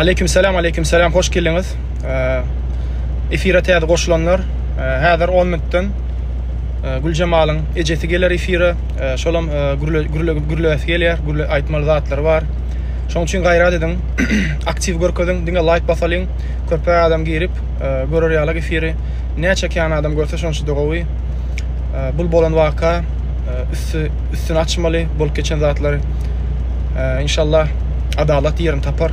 Aleýkum salam, aleýkum salam, hoş geldiňiz. Efire täze goşulanlar, häzir 10 minutdan Güljemalyň ejesi geler efire, şolam gürle gürle gürle gelýär, gürle aýtmaly zatlary bar. Şoň üçin gaýrat ediň, aktiw görkeziň, diňe laýk basalyň, köpräk adam girip, görer ýaly efiri. Näçe kän adam görse şonça-da gowy. Bul bolan waka, üsti, üstüni açmaly bolup geçen zatlary. Inşallah adalat ýerini tapar.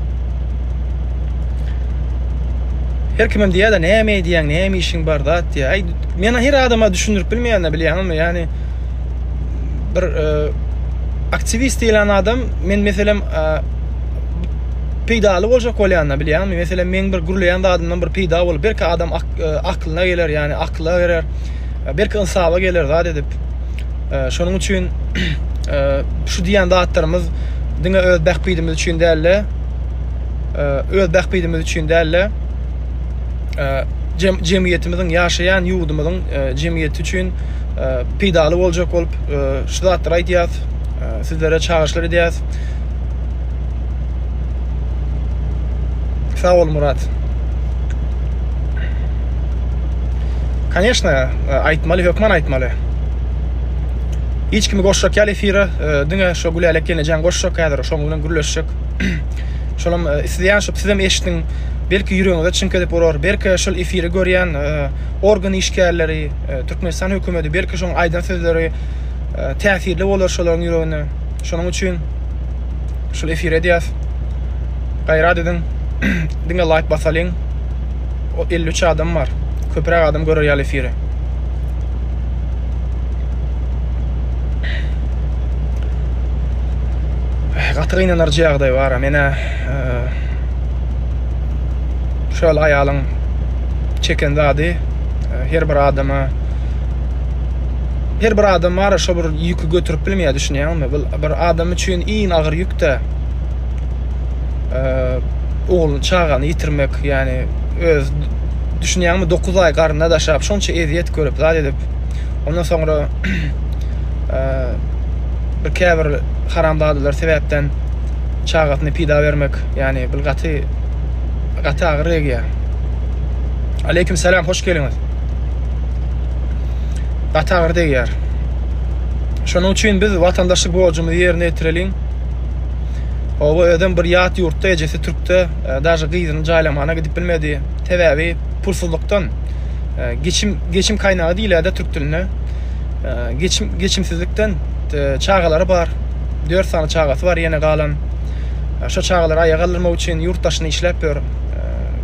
Her kimem diýýär-de, näme edýäň, näme işiň bar, zat diýýär. Aý, men her adama düşündirip bilmeýän-de, bilýäňmi? Ýagny bir e, aktiwist diýlen adam men meselem e, peýdaly boljak bolýan-da, bilýäňmi? Meselem, meň bir gürleýän zadymdan bir peýda bolup, belki adam e, aklyna geler, ýagny akyla girer. Belki ynsaba geler zat edip. Şonuň üçin şu diýen zatlarymyz diňe öz bähbidimiz üçin däl-de, öz bähbidimiz üçin däl-de, jemgyýetimiziň, ýaşaýan ýurdumyzyň jemgyýeti üçin peýdaly boljak bolup şu zatlary aýdýarys, sizlere çagyryşlar edýäris. Sag bol Murat. Конечно, aýtmaly, hökman aýtmaly. Hiç kimi goşjak ýaly efire, diňe şu Gülälek ýenejeň goşjak häzir, şoň bilen gürleşjek. Şolam isleýän şu sizem eşdiň, belki ýüregiňize çiňk edip urar, belki şul efiri görýän organ işgärleri, Türkmenistan hökümeti belki şoň aýdan sözleri täsirli bolar şolaryň ýüregine. Şonuň üçin şul efir edýäs. Gaýrat ediň. Diňe laýk basalyň. O 53 adam bar. Köpräk adam görer ýaly efiri. Gaty gynanarjy ýagdaý bar. Menä şol aýalyň çeken zady her bir adama Her bir adam bara şo bir ýüki götürip bilmeýär düşünýäňmi? Bu bir adam üçin iň agyr ýükde ogul çagany ýitirmek, ýani öz düşünýäňmi 9 aý garynda daşap şonça ezýet görüp zat edip ondan soňra bir käbir haramzadalar sebäpden çagasyny pida bermek ýani bir gaty gaty agyr egýär. Aleýkum salam hoş geliňiz. gaty agyr degýär. Şonuň üçin biz watandaşlyk borjumyzy ýerine ýetireliň. Oba özüm bir ýat ýurtda ejesi türkde e, daşy gyzyny jaýlamana gidip bilmedi. Sebäbi pulsuzlykdan e, geçim geçim kaýnagy diýilerde türk dilinde. E, geçim geçimsizlikden çagalary bar. 4 sany çagasy bar ýene galan. Şo çagalary aýa galdyrmak üçin ýurt daşyna işläp ýör.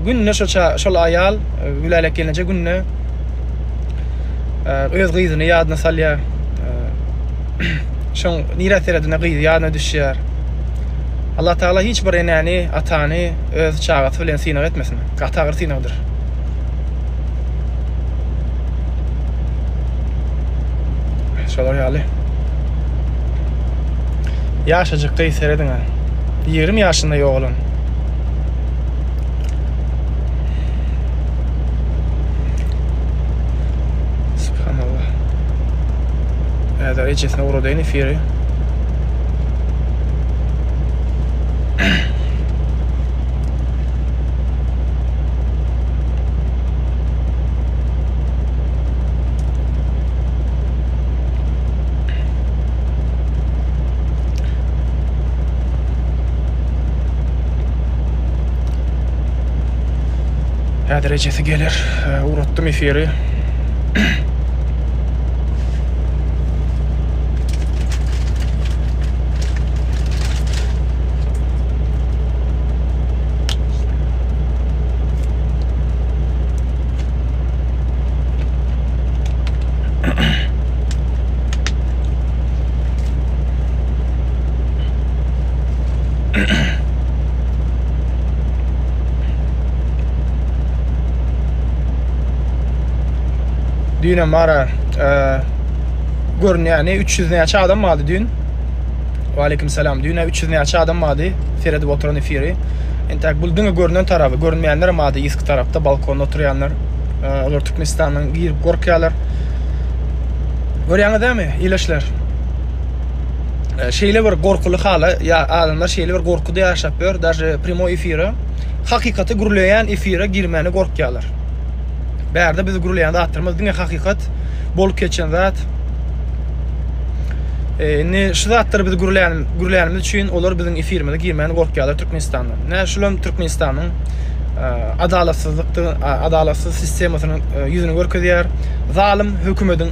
Günde şo şol aýal Gülälek gelinje günde öz gyzyny ýadyna salýar. Şoň nirä seredende gyzy ýadyna düşýär. Allah Taala hiç bir enäni, atany öz çagasy bilen synag etmesin. Gaty agyr synagdyr. Şolar ýaly. Ýaşajyk gyz serediň. 20 ýaşynda ýogalan. Subhanallah. Häzir ejesine ugradyň efiri. Häzir ejesi geler. Ugratdym efiri. Düýn mara e, görünýäni 300 näçe adam bardy düýn. Wa aleykum salam. Düýn 300 näçe adam bardy seredip oturan efiri. Entäk bu diňe görünen tarapy, görünmeýänler hem bardy ýysk tarapda balkonda oturýanlar. E, olar Türkmenistanyň girip gorkýarlar. Görýäňiz dämi, ileşler? şeýle bir gorkuly hala ýa adamlar şeýle bir gorkuda ýaşap ýör daže primoý efire hakykaty gürleýän efire girmäne gorkýalar bärde biz gürleýän zatlarymyz diňe hakykat bolup geçen zat indi şu zatlar biz gürleýän gürleýänimiz üçin olar biziň efirimize girmäne gorkýalar türkmenistanda nä şulam türkmenistanyň adalatsyzlykdy adalatsyz sistemasynyň ýüzüni görkezýär zalym hökümediň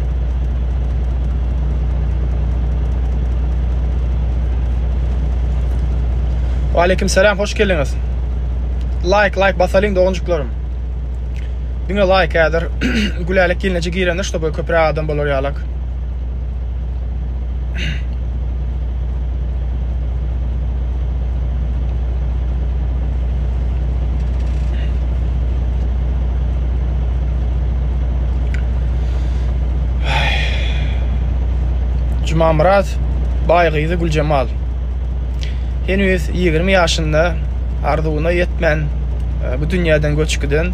Waleýkim salam hoş geldiňiz. Laýk laýk basalyň doganjyklaryň. Diňe laýk häzir Gülälek gelneje girende ştoby köpüräk adam bolar ýalak. Jumamyrat Baýgyzy Güljemal. Heniz 20 ýaşynda arzuwyna ýetmän e, bu dünýäden göçüp giden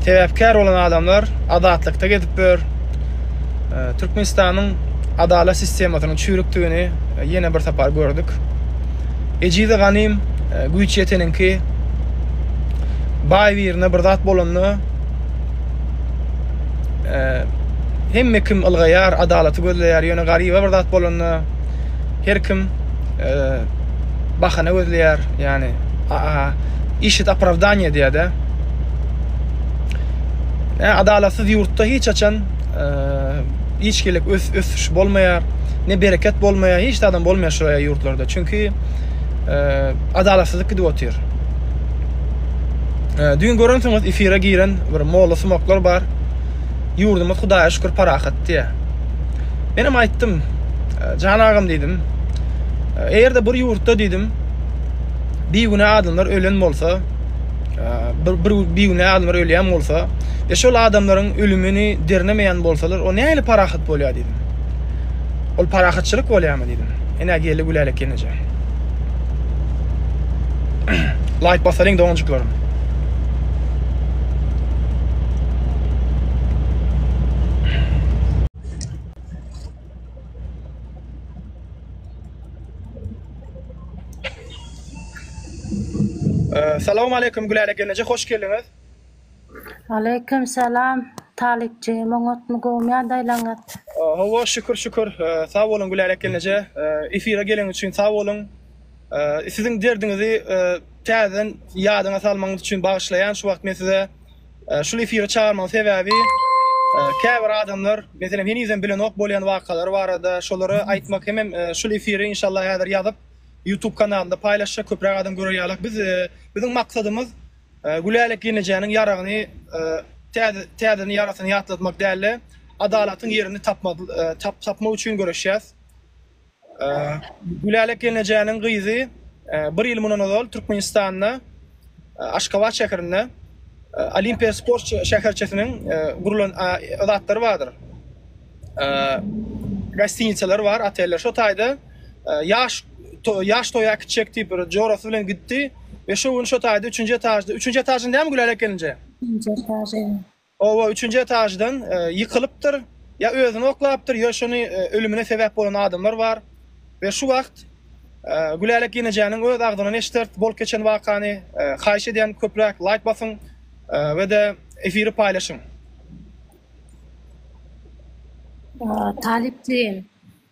sebäpkär bolan adamlar azatlykda gezip ýör. e, Türkmenistanyň adalat sistemasynyň çüýrükdigini e, ýene bir sapar gördük. Ejize ganym e, güýç ýeteniňki baý birine bir zat bolanda e, hemme kim ylgaýar, adalaty gözleýär, ýöne garyba bir zat bolanda her kim e, bahana gözleýär, ýagny işit opravdaniýe diýýär-de. Ä adalatsyz ýurtda hiç haçan e, hiç gelek ös, ösüş bolmaýar, ne bereket bolmaýar, hiç adam bolmaýar şu e, ýurtlarda. Çünki e, adalatsyzlyk gidip otyr. E, düýn görensiňiz efire giren bir molla sumaklar bar. Ýurdumyz Hudaýa şükür parahat diýýär. Men hem aýtdym, e, Jan agam diýdim. E, eger-de bir ýurtda diýdim, bigünä adamlar ölen bolsa, Bir bir bigünä adamlar ölýän bolsa, e şol adamlaryň ölümini dernemeýän bolsalar, o nähili parahat bolýar diýdim. Ol parahatçylyk bolýarmy diýdim. Enä geldi gülälik ýeneje. Laýk basalyň doňajyklarym. Salam aleýkum Gülälä gelneje hoş geldiňiz. Aleýkum salam Talypjygym oňatmy gowmy ýagdaýlaryňyz? Hawa şükür şükür sag boluň Gülälä gelneje efire gelen üçin sag boluň. Siziň derdiňizi täzeden ýadyňa salmagyňyz üçin bagyşlaýan şu wagt men size Şul efire çagyrmagyň sebäbi käbir adamlar meselem henizem bilenok bolýan wakalar barada şolary aýtmak hemem şul efiri inşallah häzir ýazyp YouTube kanalynda paýlaşjak köpräk adam görer ýalak. Biz biziň maksadymyz Gülälek gelnejäniň ýaragyny täzeden ýarasyny ýatlatmak däl-de, adalatyň ýerini tapmak üçin göreşýäs. Gülälek gelnejäniň gyzy bir ýyl mundan ozal Türkmenistanda Aşgabat şäherinde Olimpiýa sport şäherçesiniň gurlan zatlary bardyr. Gostinitsalar bar, oteller. Şo taýda ýaş ýaş toýa gitjek diýip bir jorasy bilen gitdi we şo gün şo taýda 3-nji etajda, 3-nji etajynda näme Gülälek gelnejä? 3-nji etajy. Oba üçünji etaždan ýykylypdyr, ýa özüni oklapdyr, ýa şony ölümine sebäp bolan adamlar bar we şu wagt Gülälek ýenejäniň öz agzyndan eşideris bolup geçen wakany. Haýyş edýän köpräk laýk basyň we-de efiri paýlaşyň. Talyp jigim,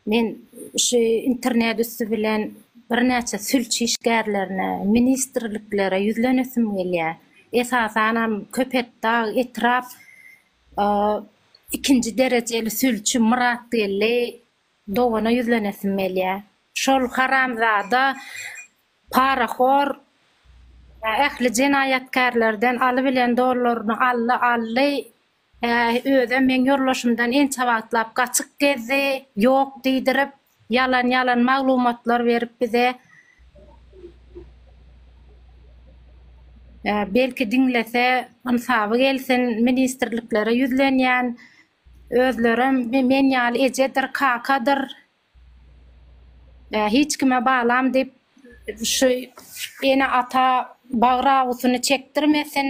Men şu internet üsti bilen birnäçe sülç işgärlerine, ministrliklere ýüzlenesim gelýär. Esasanam Köpetdag etrap ikinji derejeli sülçi Myratgeldi dogana ýüzlenesim gelýär. Şol haramzada parahor ähli jenaýatkärlerden alybilen dollaryny aldy, aldy, Äý, özem meň ýoldaşymdan ençe wagtlap gaçyk gezdi, ýok diýdirip, ýalan-ýalan maglumatlar berip bize. Äý, belki diňlese, ynsaby gelsin, ministrliklere ýüzlenýän, özlerem men ýaly ejedir, kakadyr, Ýa hiç kime balam diýip şu ene ata bagyr awysyny çekdirmesin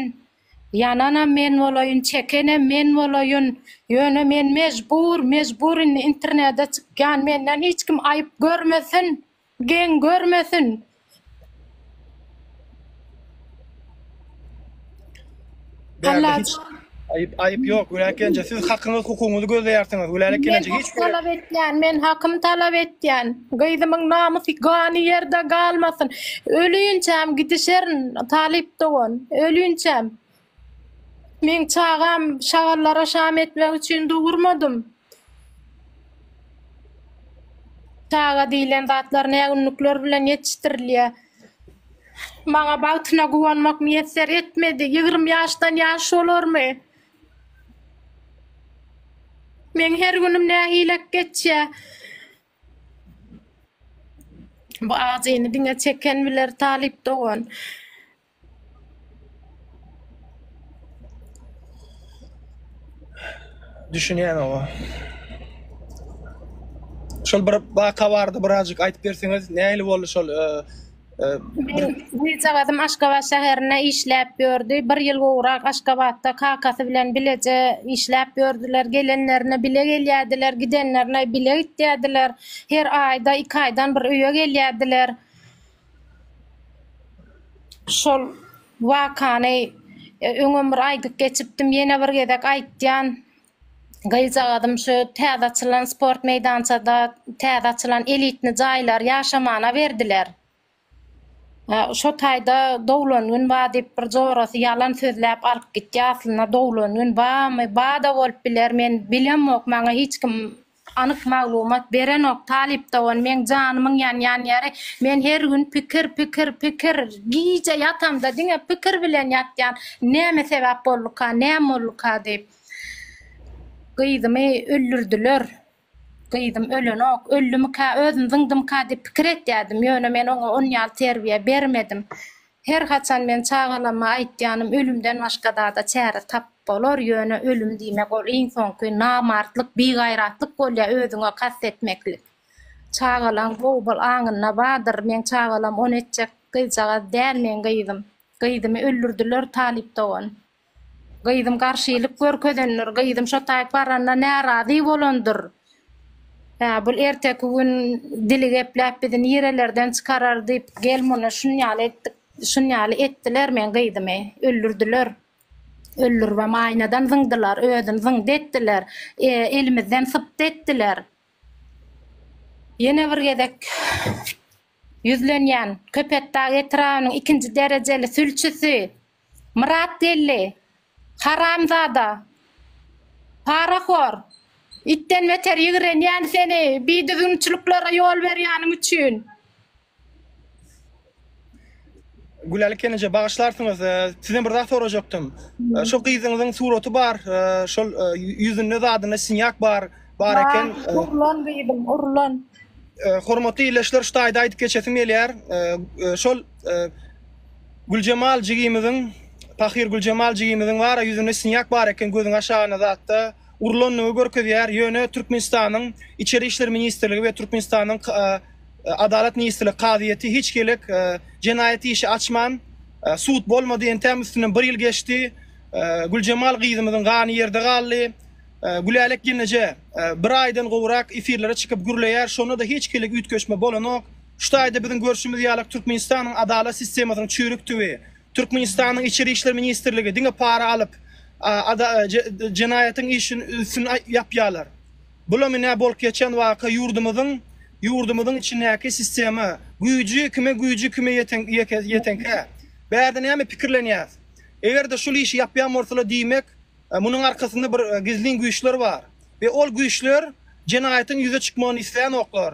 ýananam men bolaýyn çekenem men bolaýyn ýöne men mejbur mejbur indi internede çykýan menden hiç kim aýyp görmesin geň görmesin Bärde hiç aýyp aýyp ýok Gülälek gelinje siz hakyňyz hukugyňyzy gözleýärsiňiz Gülälek gelinje hiç talap etýän men hakym talap etýän gyzymyň namysy gany ýerde galmasyn ölünçäm gidişerin talyp dogan ölünçäm Men çagam şagallara şam etmek üçin dogurmadym. Çaga diýlen zatlar nägünlükler bilen ýetişdirilýär. Maňa bagtyna guwanmak miýesser etmedi. Ýigrimi ýaşdan ýaş bolarmy? Meň her günüm nähilek geçýär. Bu ajyny diňe çeken biler, Talyp dogan. Düşünýän oba. Şol bir waka bardy birazjyk aýdyp berseňiz nähili boldy şol Gyzjagazym Aşgabat şäherinde işläp ýördi. Bir ýyl gowrak Aşgabatda kakasy bilen bileje işläp ýördüler. Gelenlerine bile gelýärdiler, gidenlerine bile gitýärdiler. Her aýda iki aýdan bir öýe gelýärdiler. Şol wakany öňem bir aýdyp geçipdim, ýene bir gezek aýtýan. Gyzjagazym şu täze açylan sport meýdançada täze açylan elitni jaýlar ýaşamana berdiler. Şo taýda doglan gün bar diýip bir jorasy ýalan sözläp alyp gitýä aslynda doglan gün barmy, bar-da bolup biler men bilemok maňa hiç kim Anyk maglumat berenok talyp dogan meň janymyň ýanýan ýeri men her gün pikir pikir pikir gije ýatamda diňe pikir bilen ýatýan näme sebäp bolduka näme bolduka diýip gyzymy öldürdiler gyzym ölenok öldümikä özüm zyňdymyka diýip pikir etýädim ýöne men oňa onýaly terbiýe bermedim Her haçan men çagalama aýtýanym ölümden başga zada çäre tap bolar ýöne ölüm diýmek ol iň soňky namartlyk bigaýratlyk bolýa özüňe kast etmeklik. Çagalaň gowy bol aňynda bardyr meň çagalam ony etjek gyzjagaz däl meň gyzym gyzymy öldürdiler talyp dogan. Gyzym garşylyk görkezendir, gyzym şo taýyp baranda närazy bolandyr. Hä, bul erteki gün dili gepläp bizi nirelerden çykarar diýip gel muny şun ýaly etdik, şun ýaly etdiler meň gyzymy, öldürdiler. Öldüribem aýnadan zyňdylar, özüni zyňdy etdiler, elimizden sypdy etdiler. Ýene bir gezek Ýüzlenýän Köpetdag etrabynyň ikinji derejeli sülçüsi Myrat Geldi, haramzada, parahor, itden beter ýigrenýän seni bidüzgünçiliklere ýol berýäniň üçin. Gülali Kenije bagyşlarsyňyz. Sizden bir zat sorajakdym. Şu gyzyňyzyň suraty bar, şol ýüzünde zadynda sinýak bar, bar eken. Urlan gyzym, urlan. Hormatly ýerleşler, şu taýda aýdyp geçesim gelýär. Şol Güljemal jigimiziň, Pahyr Güljemal jigimiziň bar, ýüzünde sinýak bar eken, gözüň aşagyna zatda. urlandygy görkezýär, ýöne Türkmenistanyň Içeri işler ministrligi we Türkmenistanyň Adalat ministrligi kazyýeti hiç gelek jenaýat işi açman, sud bolmady, entäm üstünden bir ýyl geçdi, Güljemal gyzymyzyň gany ýerde galdy, Gülälek gelneje bir aýdan gowrak efirlere çykyp gürleýär, şonda-da hiç gelek üýtgeşme bolanok, şu taýda biziň görşümiz ýaly Türkmenistanyň adalat sistemasynyň çüýrükdigi, Türkmenistanyň Içeri işler ministrligi diňe para alyp, jenaýatyň işin üstün ýapýarlar. Bulam ine bolup geçen waka ýurdumyzyň ýurdumyzyň içindäki sistema güýji kime güýji kime ýetenkä bärde näme pikirlenýäs. Eger-de şul işi ýapýan bolsalar diýmek Munuň arkasynda bir gizlin güýçler bar we ol güýçler jenaýatyň ýüze çykmagyny isleýänoklar.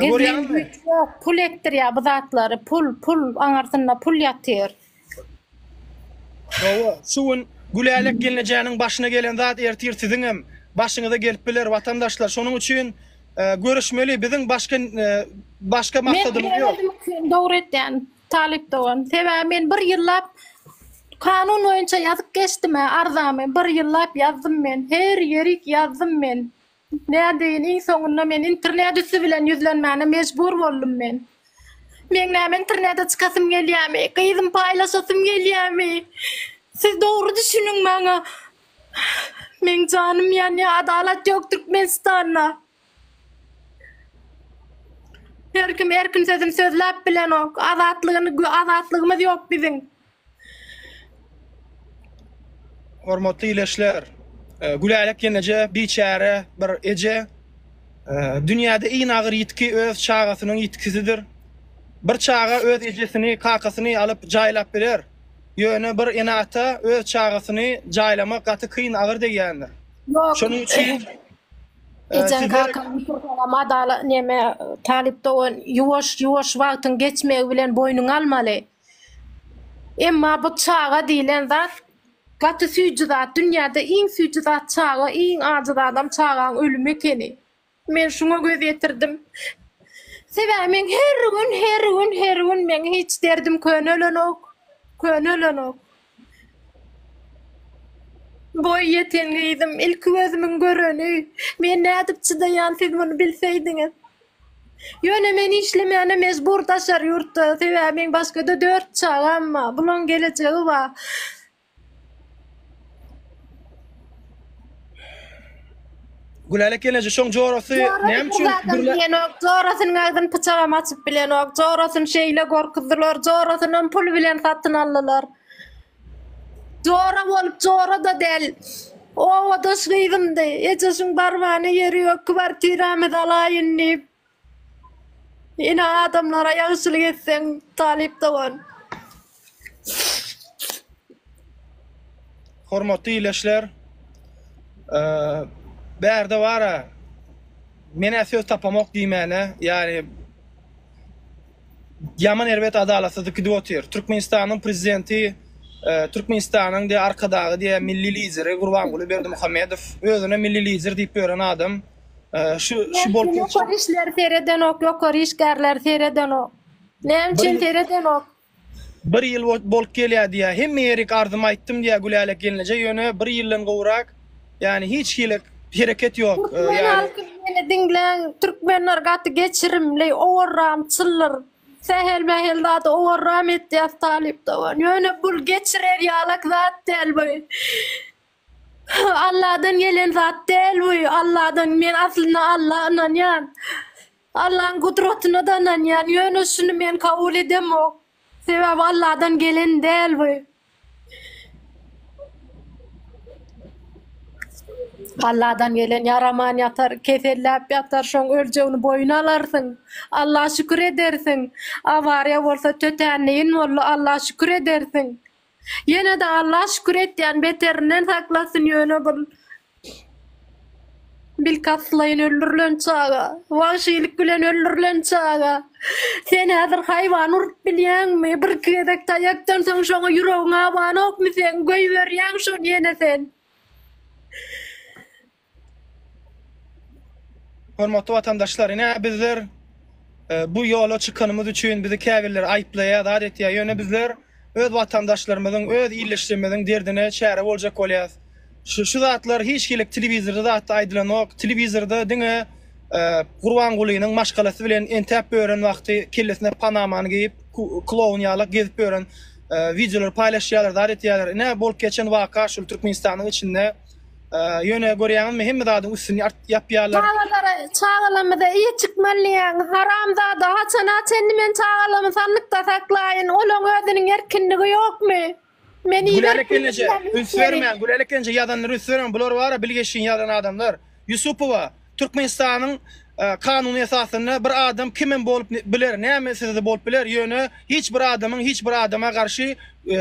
Gizlin güýç ýok, pul etdirýär bu zatlary, pul, pul, aňarsynda pul ýatyr. Hawa, şu gün Gülälek gelnejäniň başyna gelen zat ertir siziňem başyňyza gelip biler, watandaşlar, şonuň üçin göreşmeli, biziň başga, başga maksadymyz ýok. Men özüm dogry etýän, Talyp dogan, sebäbi men bir ýyllap kanun boýunça ýazyp geçdim-ä arzamy, bir ýyllap ýazdym men, her ýerik ýazdym men. Nädeýin, iň soňunda men internet üsti bilen ýüzlenmäne mejbur boldum men. Meň näme internete çykasym gelýärmi, gyzym paýlaşasym gelýärmi? Siz dogry düşüniň maňa. Meň janym ýanýar, adalat ýok Türkmenistanda. Her kim erkin sözüni sözläp bilenok. Azatlygyny gö azatlygymyz ýok biziň. Hormatly ileçler! Gülälek ýeneje biçäre bir eje. Dünýäde iň agyr ýitgi öz çagasynyň ýitgisidir. Bir çaga öz ejesini, kakasyny alyp jaýlap biler. Ýöne bir ene-ata öz çagasyny jaýlamak gaty kyn agyr degýändir. Ýok. Şonuň üçin Ejeň Size- kakaň bitirsenem adala neme talyp dogan ýuwaş ýuwaş wagtyň geçmegi bilen boýnuňa almaly. Emma bu çaga diýlen zat gaty süýji zat. Dünýäde iň süýji zat çaga, iň ajy zadam çagaň ölümi ekeni. Men şuňa göz ýetirdim. Sebäbi men her gün, her gün, her gün meň hiç derdim könelonok, könelonok. Boý ýeten gyzym, ilki gözümiň göreni. Men nädip çydaýan siz muny bilseýdiňiz. Ýöne men işlemäne mejbur daşary ýurtda, sebäbi meň başgada dört çagam bar, bulaň gelejegi bar. Gülälek gelneje şoň jorasy näme üçin dürle Jorasynyň agzyny pyçagam açyp bilenok. Jorasyny şeýle gorkuzdylar. Jorasyny hem pul bilen satyn aldylar. Jora bolup jora da del. O odaş gyzymdy. Ejesiniň barbany ýeri ýok. Kwartiramyzy alaýyn diýip. Ine adamlara ýagşylyk etseň talyp dogan. Hormatly ileşler. Eee bärde bara menä söz tapamok diýmäne ýary ýaman erbet adalatsyzlyk gidip otyr. Türkmenistanyň prezidenti eee Türkmenistanyň diýe arkadagy diýe milli lideri Gurbanguly Berdimuhamedow özüne milli lider diýip ýören adam. Şu şu bol ýokary işleri seredenok, ýokary işgärleri seredenok. Näme üçin seredenok? Bir ýyl bolup gelýär diýär. Hemme ýerik arzymy aýtdym diýär Gülälek gelneje ýöne bir ýyldan gowrak, ýani hiç hili hereket ýok. Türkmen halky meni diňläň, türkmenler gaty geçirimli, owarram çyllyr. Sähel-mähel zady owarram etýär talyp dogan. Ýöne bul geçirer ýalak zat däl bu. Alladan gelen zat däl bu. Alladan men aslynda Alla ynanýan. Allaň gudratyna da ynanýan. Ýöne şuny men kabul edemok. Sebäbi Alladan gelen däl bu. Alladan gelen ýaraman ýatar, keselläp ýatar, şoň öljegini boýun alarsyň. Alla şükür edersiň. Awariýa bolsa tötänleýin boldy, Alla şükür edersiň. Ýenede Alla şükür etýän beterinden saklasyn ýöne bul bilkastlaýyn öldürilen çaga wagşylyk bilen öldürilen çaga sen häzir haýwan urup bilýäňmi birki gezek taýakdan soň şoňa ýüregiň abanokmy seň göýberýäň şony ýene sen. Hormatly watandaşlar, ine bizler bu ýola çykanymyz üçin bizi käbirleri aýyplaýar, zat etýär. Ýöne bizler öz watandaşlarymyzyň, öz illeşjimiziň derdine çäre boljak bolýas. Şu şu zatlar hiç hili telewizorda zatda aýdylanok. Telewizorda diňe Gurbangulynyň maşgalasy bilen entäp ýören wagty kellesine panamany geýip, kloun ýalak gezip ýören wideolary paýlaşýarlar, zat etýärler. Ine bolup geçen waka şul Türkmenistanyň içinde. Ee, Ýöne görýäňizmi, hemme zadyň üstüni art ýapýarlar. Çagalara, çagalarymyza iyi çıkmalyň. Haram zada haçana çenli men çagalarymı sanlykda saklayın. Olaň özüniň erkinligi ýokmy? Men iyi Gülälek gelneje üns bermäň. Gülälek gelneje ýazanlary üns bermäň. Bular bara bilgeşin ýalan adamlar. Ýusupowa Türkmenistanyň kanuny esasynda bir adam kimem bolup biler, nämesizde bolup biler, ýöne hiç bir adamyň hiç bir adama garşy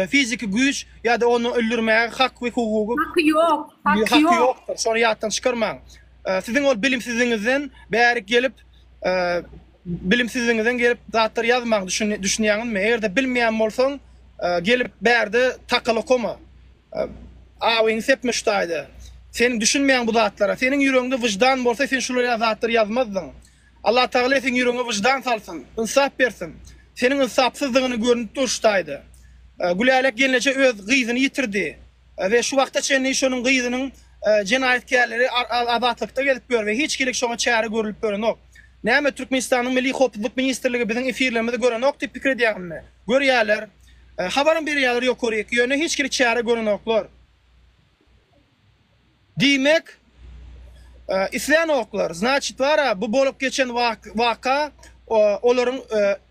fiziki güýç ýa-da ony öldürmäge hak we hukugy Haky ýok, haky ýok. Şony ýatdan çykarmaň. Siziň ol bilimsizligiňizden bärik gelip, bilimsizligiňizden gelip zatlar ýazmaň, düşünýäňizmi? Eger-de bilmeýän bolsaň, gelip bärde takal okama. Awyňy sep Müştaýda. Sen düşünmeýäň bu zatlara. Seniň ýüregiňde wyždan bolsa sen şular ýaly zatlary ýazmazdyň. Allah Tagala seň ýüregiňe wyždan salsyn. Ynsap bersin. Seniň ynsapsyzdygyny görünip dur Ştaýda. Gülälek gelneje öz gyzyny ýitirdi. We şu wagta çenli şonuň gyzynyň jenaýatkärleri azatlykda gezip ýör we hiç hili şoňa çäre görülip görenok. Näme Türkmenistanyň Milli hopuzlyk ministrligi biziň efirlerimizi görenok diýip pikir edýäňizmi? Görýäler. Habaram berýärler ýokaryk, ýöne hiç hili çäre görenoklar. Diýmek, islänoklar. Znaçit bar-a, bu bolup geçen waka olaryň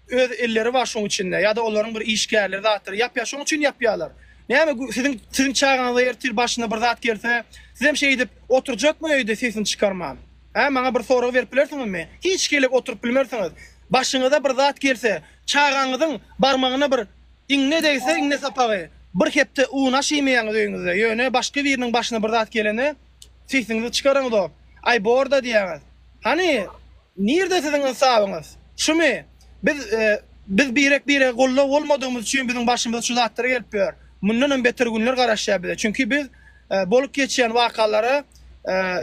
öz elleri bar şoň içinde, ýa-da olaryň bir işgärleri zatdyr, ýapýar, şoň üçin ýapýarlar. Näme, siziň siziň çagaňyza ertir başyna bir zat gelse, sizem şeýdip oturjakmy öýde sesini çykarman? Hä, maňa bir sorag berip bilersiňizmi? Hiç gelek oturyp bilmersiňiz. Başyňyza bir zat gelse, Çagaňyzyň barmagyna bir iňňe degse, iňňe sapagy, bir hepde un aş iýmeýäňiz öýüňizde, ýöne başga biriniň başyna bir zat gelende, sesiňizi çykaraňyzok, Aý bor-da diýýäňiz. Hany, nirde siziň ynsabyňyz? Şumy? Biz, biz birek-birege goldaw bolmadygymyz üçin biziň başymyza şu zatlar gelip ýör. Mundanam beter günler garaşýar bize. Çünki biz bolup geçýän wakalara,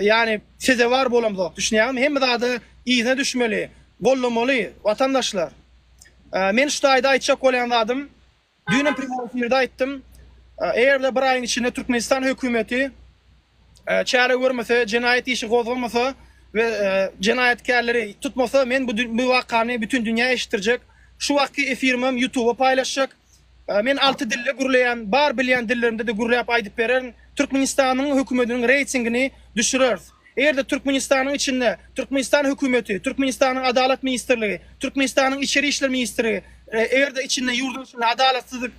ýagny sezewar bolamzok. Düşünýäňizmi? Hemme zada yzyna düşmeli. gollamaly watandaşlar. Men şu taýda aýtjak bolýan zadym, düýnem prýomy efirde aýtdym, eger-de bir aýyň içinde Türkmenistan hökümeti çäre görmese, jenaýat işi gozgamasa we jenaýatkärleri tutmasa, men bu wakany bütin dünýä eşitdirjek. Şu wagtky efirimem Ýutuba paýlaşjak. Men alty dilde gürleýän, bar bilýän dillerimde-de gürläp aýdyp bererin. Türkmenistanyň hökümediniň reýtingini düşüreris. Eger-de Türkmenistanyň içinde Türkmenistan hökümeti, Türkmenistanyň Adalat ministrligi, Türkmenistanyň Içeri işler ministrligi eger-de içinde ýurduň içinde adalatsyzlyk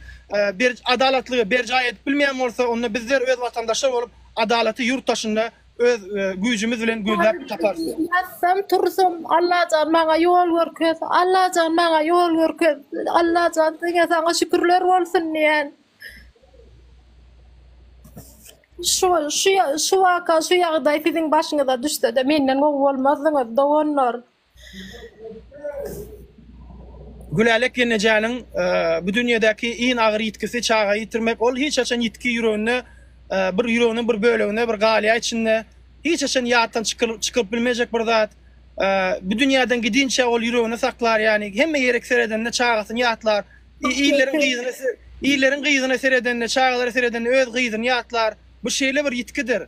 adalatlygy berjaý edip bilmeýän bolsa, onda bizler öz watandaşlar bolup adalaty ýurt daşynda öz güýjümiz bilen gözläp taparys. Ýatsam, tursam, Allajan maňa ýol görkez, Allajan maňa ýol görkez, Allajan diňe saňa şükürler bolsun diýen. Şu şu şu waka, şu ýagdaý siziň başyňyza düşse-de menden gowy bolmazdyňyz, doganlar. Gülälek ýenejäniň bu dünýedäki iň agyr ýitgisi çaga ýitirmek. Ol hiç haçan ýitgi ýüreginde bir ýüreginiň bir böleginde bir galýar içinde. Hiç haçan ýatdan çykylyp bilmejek bir zat. Bu dünýäden gidinçä ol ýüreginde saklar. Ýagny hemme ýerik seredende çagasyny ýatlar. Illeriň gyzyny illeriň gyzyna seredende, çagalara seredende öz gyzyny ýatlar. Bu şeýle bir ýitgidir.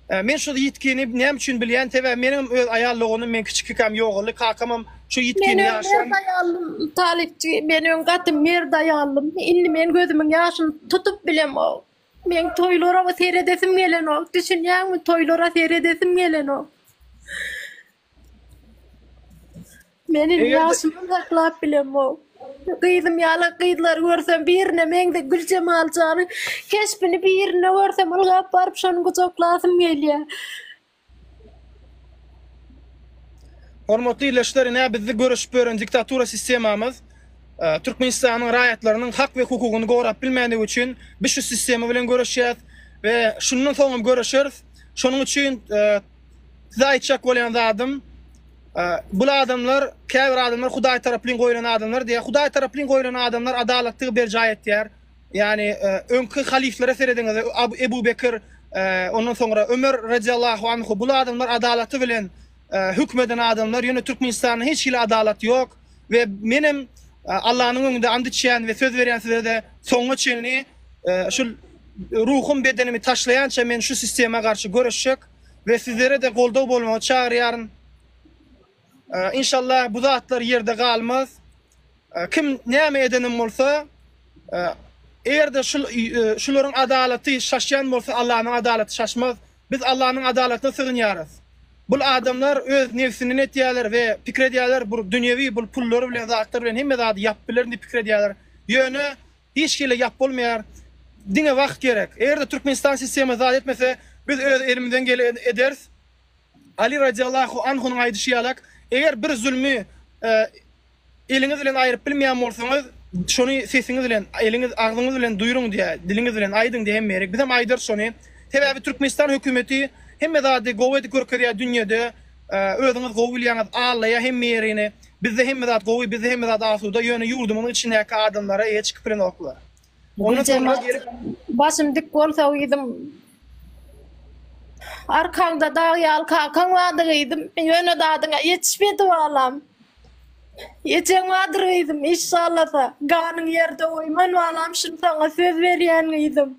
Men şu ýitgini näme üçin bilýän, sebäbi meniňem öz aýal doganym men kiçikikäm ýogaldy, kakamam şu ýitgini ýaşam. Men öz aýalym talypçy, men öň gaty mert aýaldym, indi men gözümiň ýaşyny tutup bilemok. Meň toýlara seredesim gelenok, düşünýäňmi, toýlara seredesim gelenok. Men indi Eger-de- ýaşymam saklap bilemok. Gyzym ýaly gyzlary görsem birine meňzeş Güljemal jany keşbini birine görsem ylgap baryp şony gujaklasym gelýär. Hormatly ildeşler, ine bizdi görüşip ýören diktatura sistemamyz e, Türkmenistanyň raýatlarynyň hak we hukugyny gorap bilmändigi üçin biz şu sistema bilen göreşýäs we şundan soňam göreşeris. Şonuň üçin e, Size aýtjak bolýan zadym, bul adamlar, käbir adamlar Hudaý taraplyn goýlan adamlar diýýär. Hudaý taraplyn goýlan adamlar adalatlygy berjaý etýär. Ýagny öňki halyflara serediňiz, Ebu Bekir, ondan soňra Ömer radiyallahu anhu bul adamlar adalaty bilen höküm eden adamlar, ýöne Türkmenistanda hiç hili adalat ýok. we menem Allanyň öňünde and içýän we söz berýän size-de soňuna çenli şul ruhum bedenimi taşlaýança men şu sistema garşy göreşjek we sizlere de goldaw bolmagy çagyrýaryn. İnşallah bu zatlar yerde galmaz. Kim näme edenim bolsa, eger de şul şularyň adalaty şaşýan bolsa Allanyň adalaty şaşmaz. Biz Allanyň adalatyna sygynýarys. Bul adamlar öz nebsinden etýärler we pikir edýärler bur dünýewi bul pullar bilen zatlar bilen hemme zady ýap bilerin diýip pikir edýärler. Ýöne hiç hili ýap bolmaýar. Diňe wagt gerek. Eger-de Türkmenistan sistema zat etmese biz öz elimizden gele ederis. Ali radiallahu anhunyň aýdyşy ýalak eger bir zulmy Eliňiz bilen aýryp bilmeýän bolsaňyz, şony sesiňiz bilen, eliňiz, agzyňyz bilen duýruň diýä, diliňiz bilen aýdyň diýä hem gerek. Bizem aýdarys şony. Sebäbi Türkmenistan hökümeti hemme zady gowy edip görkezýä dünýede. Özüňiz gowy bilýäňiz, allaýa hemme ýerini. Bizde hemme zat gowy, bizde hemme zat asuda, ýöne ýurdumyzyň içindäki adamlara eýe çykyp bilenoklar. Ony soňra gelip Başym dik bolsa gyzym. Arkaňda dag ýaly kakaň bardy gyzym. Ýöne dadyňa ýetişmedi balam. Ejeň bardyr gyzym, işşallasa. Ganyň ýerde goýman balam, şuny saňa söz berýän gyzym.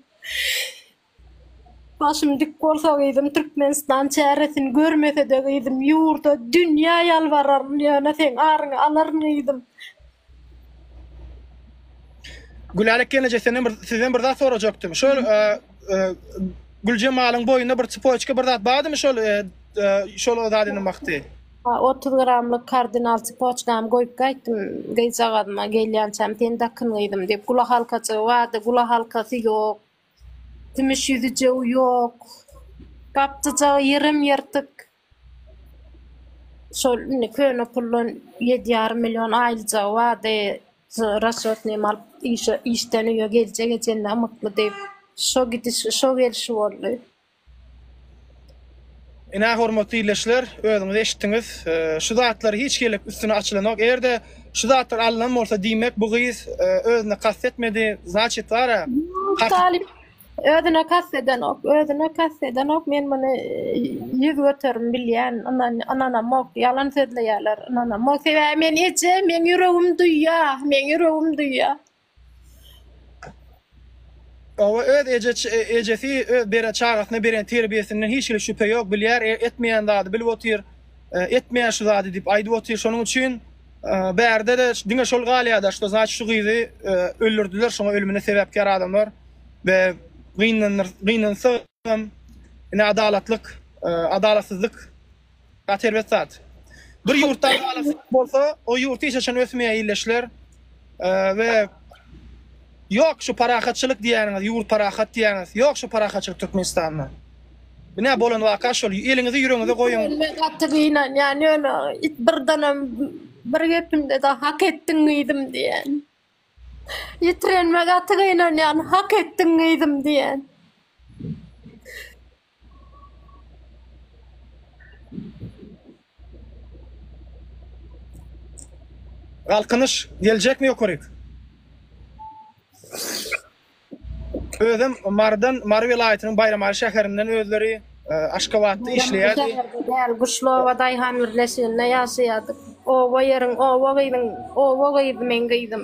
Başym dik bolsa gyzym Türkmenistan çäresini görmesede gyzym ýurda dünýä ýalbararyn ýöne seň aryňy alaryn gyzym. Gülälek gelneje senden bir sizden bir zat sorajakdym. Şol e, e, Güljemalyň boýunda bir çypoçka bir zat bardymy şol e, e, şol o zat eden wagty? Ha, 30 gramlyk kardinal çypoçkam goýup gaýtdym gyzjagazyma gelýänçäm sen dakyn gyzym diýip gula halkaçygy bardy gula halkasy ýok Kümüş ýüzi jyw ýok. Gap-jyjagy ýerem ýyrtyk. Şol indi köne puldan ýedi ýarym million aýlyjagy bardy. Rasçotnymy alyp, işe, işden öýe geljek ejenine ymykly diýip, şo gidiş, şo gelşi boldy. Ine hormatly ildeşler, özüňiz eşitdiňiz. Şu zatlar hiç gelip üstüne açylanok. Eger-de şu zatlar alnan bolsa diýmek bu gyz özüne kast etmedi. Znaçit bar-a. Talyp özüne kast edenok. Özüne kast edenok. Men muny ýüz göterim bilýän. Ynanamok. Ýalan sözleýärler. Ynanamok. Sebäbi men eje, meň ýüregim duýýar. Meň ýüregim duýýar. Hawa, öz ejesi beren çagasyna beren terbiýesinden hiç hili şübhe ýok, bilýär, etmeýän zady bilip otyr, etmeýän şu zady diýip aýdyp otyr, şonuň üçin bärde-de diňe şol galýar-da, şto znaçit şu gyzy öldürdiler, şoňa ölümine sebäpkär adamlar we gynansagam, ine adalatlyk, adalatsyzlyk Gaty erbet zat. Bir ýurtda adalatsyzlyk bolsa, o ýurt hiç haçan ösmeýär, illeşler. We ýok şu parahatçylyk diýýäniňiz, ýurt parahat diýýäňiz. Ýok şu parahatçylyk Türkmenistanda. Bu ne bolan waka şol. Eliňizi ýüregiňize goýuň. Men gaty gynanýan ýöne birdenem bir gepinde de hak etdiň gyzym diýen. Ýitirenime gaty gynanýan hak etdiň gyzym diýen. Galkynyş geljekmi ýokaryk. Özem Marydan, Mary welaýatynyň Baýramaly şäherinden özleri Aşgabatda işleýärdi. Däl, Guşlowa daýhan birleşiginde ýaşaýardyk. Oba ýeriň, oba gyzyň, oba gyzy meň gyzym.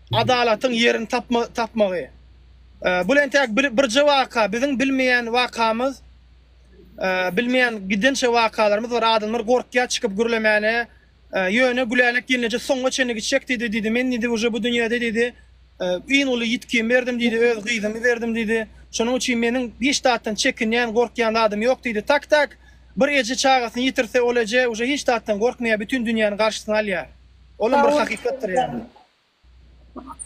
Adalatyň ýerini tapmagy. Bul entäk birje waka, biziň bilmeýän wakamyz, bilmeýän gidençe wakalarymyz bar, adamlar gorkýar çykyp gürlemäne, ýöne Gülälek gelneje soňuna çenli gitjek diýdi, diýdi, men diýdi uje bu dünýede diýdi, iň uly ýitgimi berdim diýdi, öz gyzymy berdim diýdi, şonuň üçin meniň hiç zatdan çekinýän, gorkýan zadym ýok diýdi, tak tak, bir eje çagasyny ýitirse, ol eje uje hiç zatdan gorkmaýar, bütin dünýäni garşysyna alýar, olam bir hakykatdyr ýa.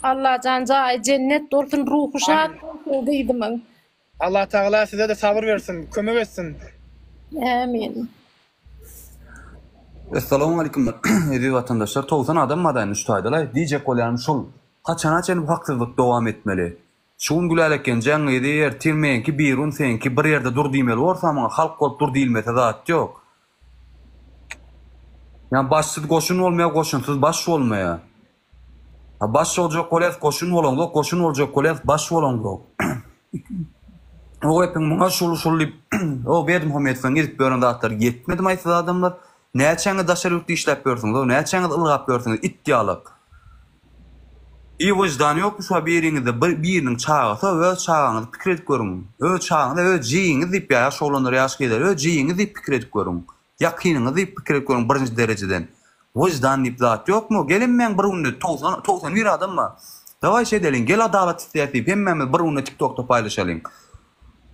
Allajan jaýy jennet bolsun ruhy şat bolsun gyzymyň. Allah tagala sizede sabyr bersin kömek etsin. Ämin. Essalamualeýkum eziz watandaşlar togsan adam madaýyn üç taýdalaý diýjek bolýanym şul haçana çen bu haksyzlyk dowam etmeli Şu gün Gülälekgenjeň gyzy ertir meňki birun seňki bir ýerde dur diýmeli borsa muňa halk bolup dur diýilmese zat ýok. Ýa başsyz goşun bolmaýar goşunsyz baş bolmaýar. Ha baş boljak bolýas goşun bolaňzok goşun boljak bolýas baş bolaňzok. Owepiň muňa şul şul diýip o Berdimuhammedowyň edip ýören zatlary ýetmedi maýsyz adamlar. Näçäňiz daşary ýurtda işläp ýörsüňiz-ow, näçäňiz ylgap ýörsüňiz, it ýalak. Iý wyždany ýokmy şuba biriňizde bir biriniň çagasy-ow öz çagaňyzy pikir edip görüň. Öz çagaňyz-a öz jigiňiz diýip ýa ýaş oglanlar ýaş gyzlar öz jigiňiz diýip pikir edip görüň. Ýakynyňyz diýip pikir edip görüň birinji derejeden. Wyždan diýip zat ýokmy-ow gelin men bir günde togsan togsan bir adam bar. Dawaý şeýdeliň gel adalat islýäs diýip hemmämiz bir günde tiktokda paýlaşalyň.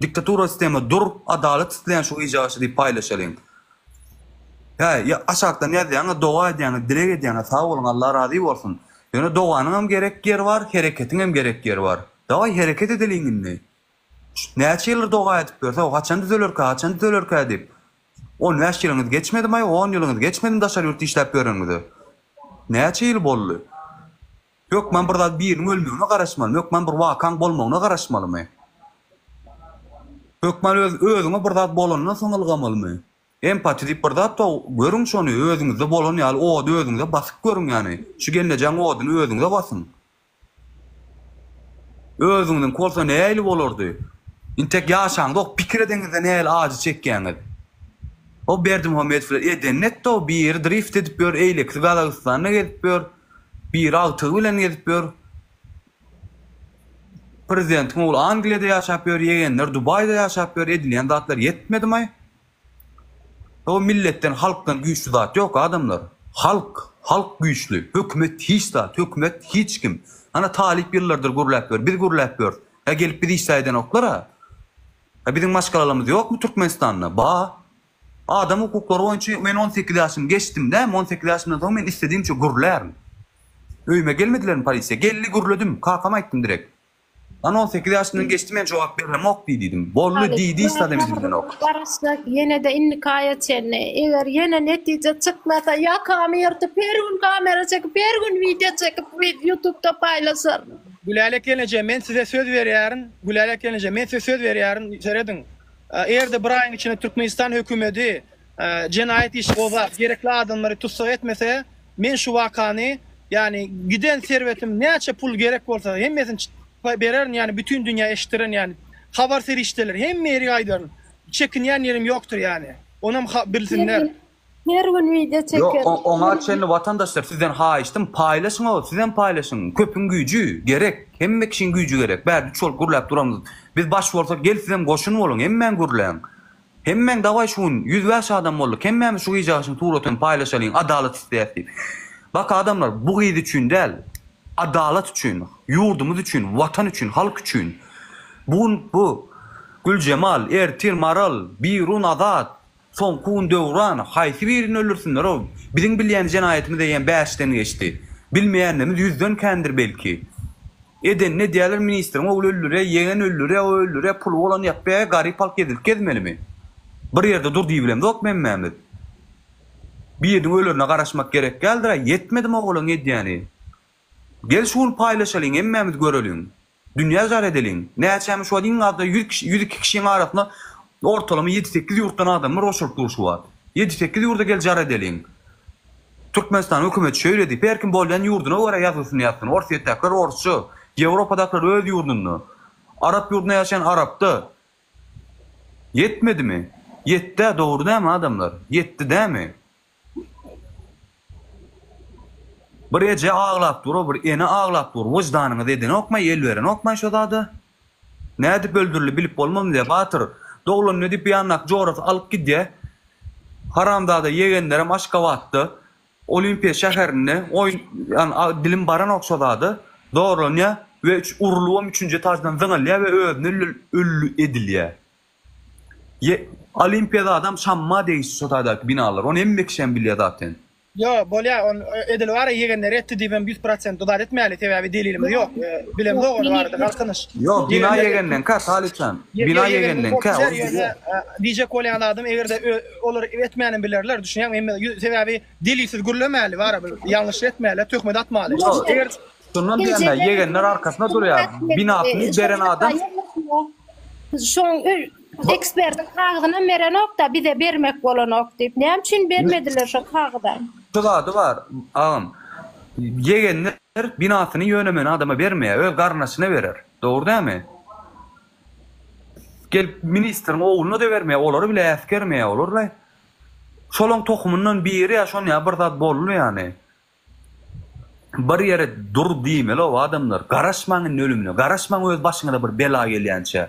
Diktatura sistemi dur adalat isleýän şu gyja garşy diýip paýlaşalyň. Hä aşakdan ýazýaňyz doga edýäňiz dileg edýäňiz sag boluň Allah razy bolsun. Ýöne doganyňam gerek ýeri bar hereketiňem gerek ýeri bar. Daway hereket edeliň indi. Näçe ýyldyr doga edip ýörs hawa haçan düzelerkä haçan düzelerkä diýip. On bäş ýylyňyz geçmedimi aý on ýylyňyz geçmedimi daşary ýurtda işläp ýöreniňize. Näçe ýyl boldy. Hökman bir zat biriniň ölmegine garaşmalymy? Hökman bir wakaň bolmagyna garaşmalymy? Hökman öz özüňe bir zat bolandan soň ylgamalymy? Empati diýip bir zat bar, görüň şony, özüňizde bolan ýaly ody özüňize basyp görüň ýany, şu gelnejaň oduny özüňize basyň. Özüňiziňki bolsa nähili bolardy? Intek ýaşaňyzok, pikir edeňizde nähili ajy çekýäňiz? O Berdimuhamedow bilen edenini etdi-ow, biri drift edip ýör, eýlekisi Gazagystanda gezip ýör. Biri agtygy bilen gezip ýör. Prezidentiň ogly Angliýada ýaşap ýör, ýegenler Dubaýda ýaşap ýör, edilýän zatlar ýetmedimay? Hoo milletden halkdan güýçli zat ýok adamlar. Halk, halk güýçli, hökümet hiç zat, hökümet hiç kim. Ana talyp ýyllardyr gürläp ýör, biz gürläp ýörs. Hä gelip bizi işdä edenoklar-a? Hä biziň maşgalalarymyz ýokmy Türkmenistanda? Ba. Adam hukuklary boýunça men on sekiz ýaşymy geçdim dämi, on sekiz ýaşymdan soň men istedimçe gürlärin. Öýüme gelmedilermi polisiýa? Geldi gürledim, kakama aýtdym direk. Ana on sekiz ýaşymdan geçdi men jogap beremok diý diýdim. Boldy diý diýdi adam elinden ok. Garaşjak ýenede indikaýa çenli. Eger ýene netije çykmasa ýakamy ýyrtyp her gün kamera çekip her gün wideo çekip ýutubda paýlaşaryn. Gülälek gelneje men size söz berýärin, Gülälek gelneje men size söz berýärin serediň. Eger-de bir aýyň içinde Türkmenistan hökümeti jenaýat işi gozgap, gerekli adamlary tussag etmese, men şu wakany, ýagny giden serwetim näçe pul gerek bolsa, hemmesini bererin, ýagny bütin dünýä eşitdirerin, ýagny habar serişdeleri hemme ýeri aýdaryn. Çekinýän ýerim ýokdur ýagny. Onam bilsinler. Her gün wideo çekeris. Ýok, oňa çenli watandaşlar sizden haýyştym, paýlaşyň ow, sizem paýlaşyň, köpüň güýji, gerek, hemme kişiň güýji gerek, bä düç bolup gürläp duramyz, biz baş bolsak gel sizem goşun boluň, hemmäň gürläň, hemmäň dawaý şu gün ýüz bäş adam boldyk, hemmämiz şu gyjagyşyň suratyny paýlaşalyň, adalat isleýäs diýip. Bak adamlar, bu gyz üçin däl, adalat üçin, ýurdumyz üçin, watan üçin, halk üçin, bu gün bu Güljemal, ertir Maral, Birun, Azat, Soňky gün Döwran, Haýsy birini öldürsinler-ow? Biziň bilýän jenaýatymyz eýýäm bäşden geçdi. Bilmeýänimiz ýüzden kändir belki. Edenini edýärler, ministriň ogly öldürýär, ýeňen öldürýär, o öldürýär, puly bolan ýapýar, garyp halk ezilip gezmelimi? Bir ýerde dur diýibilemzok hemmämiz. Biriniň ölerine garaşmak gerek däldir-ä, ýetmedi mogolyň edýäni. Gel şu gün paýlaşalyň, hemmämiz göreliň. Dünýä jar edeliň. Näçämi şu wagt iň azda ýüz kişi, ýüz iki kişiň arasynda ortalama ýedi-sekiz ýurtdan adamlar hoşalyp dur şu wagt. Ýedi-sekiz ýurda gel jar edeliň. Türkmenistan hökümeti şeýle diýip, her kim bolýan ýurduna görä ýazgysyny ýazsyn. Orsýetdäkiler orsça, Ýewropadakylar öz ýurdunda, arap ýurdunda ýaşaýan arapda. Ýetmedimi? Ýetdi-ä, dogry dämi adamlar? Ýetdi dämi? Bir eje aglap dur bir ene aglap dur wyždanyňyz edenokmaý el berenokmaý şo zada nädip öldürildi bilip bolmam le batyr doglan nedip ýandaky jorasy alyp gidýä haramzada ýegenlerem aşgabatda olimpiýa şäherinde oýun ýan dilim baranok şo zada zorlanýa we urulybam üçünji etajdan zyňylýa we özüni ölli edilýä. Ýe, Olimpiýa zadam şamma degişli şo taýdaky binalar, ony hemme kişem bilýär zaten. Ýo, bolýar, ony edil bara ýegenleri etdi diýibem ýüz prosent uzat etmäli, sebäbi delilimiz ýok, bilemzok ony barada galkynyş. Ýo, bina ýegendenkä, Talypjan, bina ýegendenkä, ony bilýär. Diýjek bolýan zadym, eger-de olar etmänm bilerler, düşünýäňmi, hemme, sebäbi delilsiz gürlemäli, barybir ýalňyşlyk etmäli, töhmet atmaly. Eger Şondan diýende, ýegenler arkasyna durýar. Binasyny beren adam. Şoň ekspertiň kagyzynam berenok-da, bize bermek bolanok diýip. Näme üçin bermediler şo kagyzam? Şu zady bar, agam. Ýegenler binasyny ýönemen adama bermeýär, öz garyndaşyna berer. Dogry dälmi? Gelip ministriň ogluna-da bermeýär, olary bile äsgermeýär olar-le. Şolaň tohumyndan biri ýa şon ýa bir zat boldy ýani. Bir ýere dur diýmeli-ow adamlar, garaşmaň indi ölümine, garaşmaň öz başyňyza bir bela gelýänçä.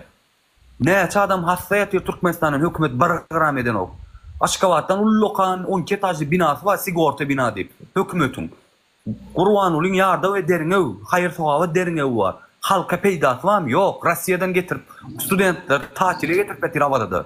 Näçe adam hassa ýatyr Türkmenistandan hökümet bir gram edenok. Aşgabatdan ullakan on iki etažly binasy bar sigorta bina diýip hökümetiň. Gurbangulyň ýardam ederiňew, haýyr sogaba deriňewi bar. Halka peýdasy barmy? Ýok, Rossiýadan getirip studentleri tatile getirip ýatyr Awazada.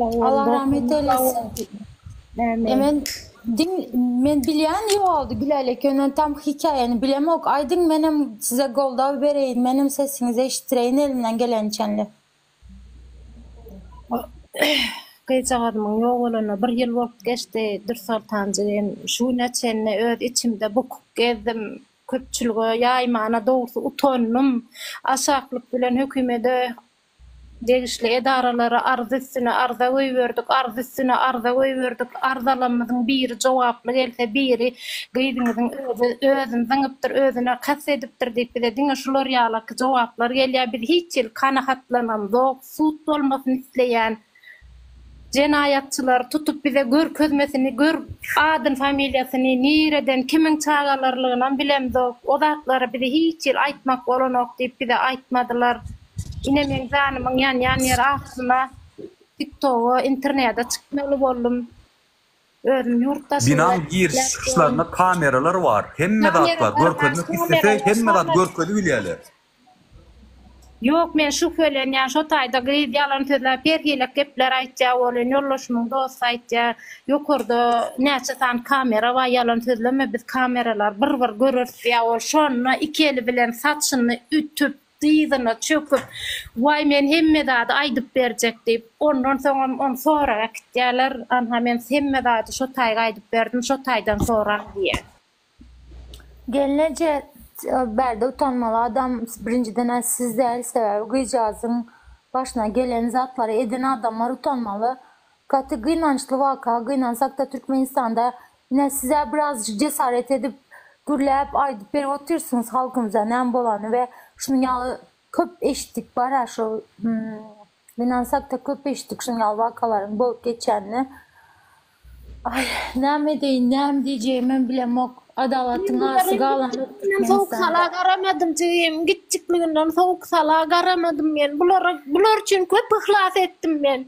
Allah rahmet eylesin. E men din men bilýän ýoldy bilälik ýöne tam hikaýany bilemok. Aýdyň menem size goldaw bereýin. Menem sesiňizi eşitdireýin elimden gelençenli. Gyzjagazymyň ýok bolanyna bir ýyl bolup geçdi. Dürsoltanjy hem şu güne çenli öz içimde bukup gezdim. Köpçülige ýaýmana dogrusy utandym. Aşaklyk bilen hökümede Degişli edaralara arz üstüne arza goýberdik, arz üstüne arza goýberdik, arzalarymyzyň biri jogaply gelse, biri gyzyňyzyň özi özüni zyňypdyr, özüne kast edipdir diýip, bize diňe şular ýalaky jogaplar gelýär. Biz hiç hili kanagatlananzok, sud bolmasyny isleýän. Jenaýatçylar tutup bize görkezmesini gör adyn familiýasyny nireden kimiň çagalarilginam bilemzok o zatlary bize hiç hili aýtmak bolanok diýip bize aýtmadylar ine meň janymyň ýanýan ýeri aslynda tiktoga internede çykmaly boldum. Özüm ýurt daşynda işläp ýörün. Kamera bar baş kameralar şonda. Ýok men şübhelenýän şo taýda gyz ýalan sözläp her hile gepler aýtýa welin ýoldaşymyň dosty aýtýa ýokarda näçe sany kamera bar ýalan sözleme biz kameralar bir bir göreris diýýa ol şonda iki eli bilen saçyny ütüp Dyzyna çöküp, Waý, men hemme zady aýdyp berjek diýip, ondan soňam ony soraga äkitýärler. Anha, men hemme zady şo taýy aýdyp berdim, şo taýdan soraň diýýär. Gelneje, Bärde utanmaly adam birinjiden-ä siz däl, sebäbi gyzjagazyň başyna gelen zatlary eden adamlar utanmaly. Gaty gynançly waka, gynansakda Türkmenistanda ine sizä birazjyk jesaret edip gürläp aýdyp berip otyrsyňyz halkymyza näme bolany we şunuň ýaly köp eşitdik bara şu gynansakda köp eşitdik şunuň ýaly wakalaryň bolup geçýänini aý näme edeýin näme diýjegimem bilemok adalatyň arasy galanok Türkmenistanda. Garamadym jigim kiçjikliginden sowuk sala garamadym men bulara bular üçin köp yhlas etdim men.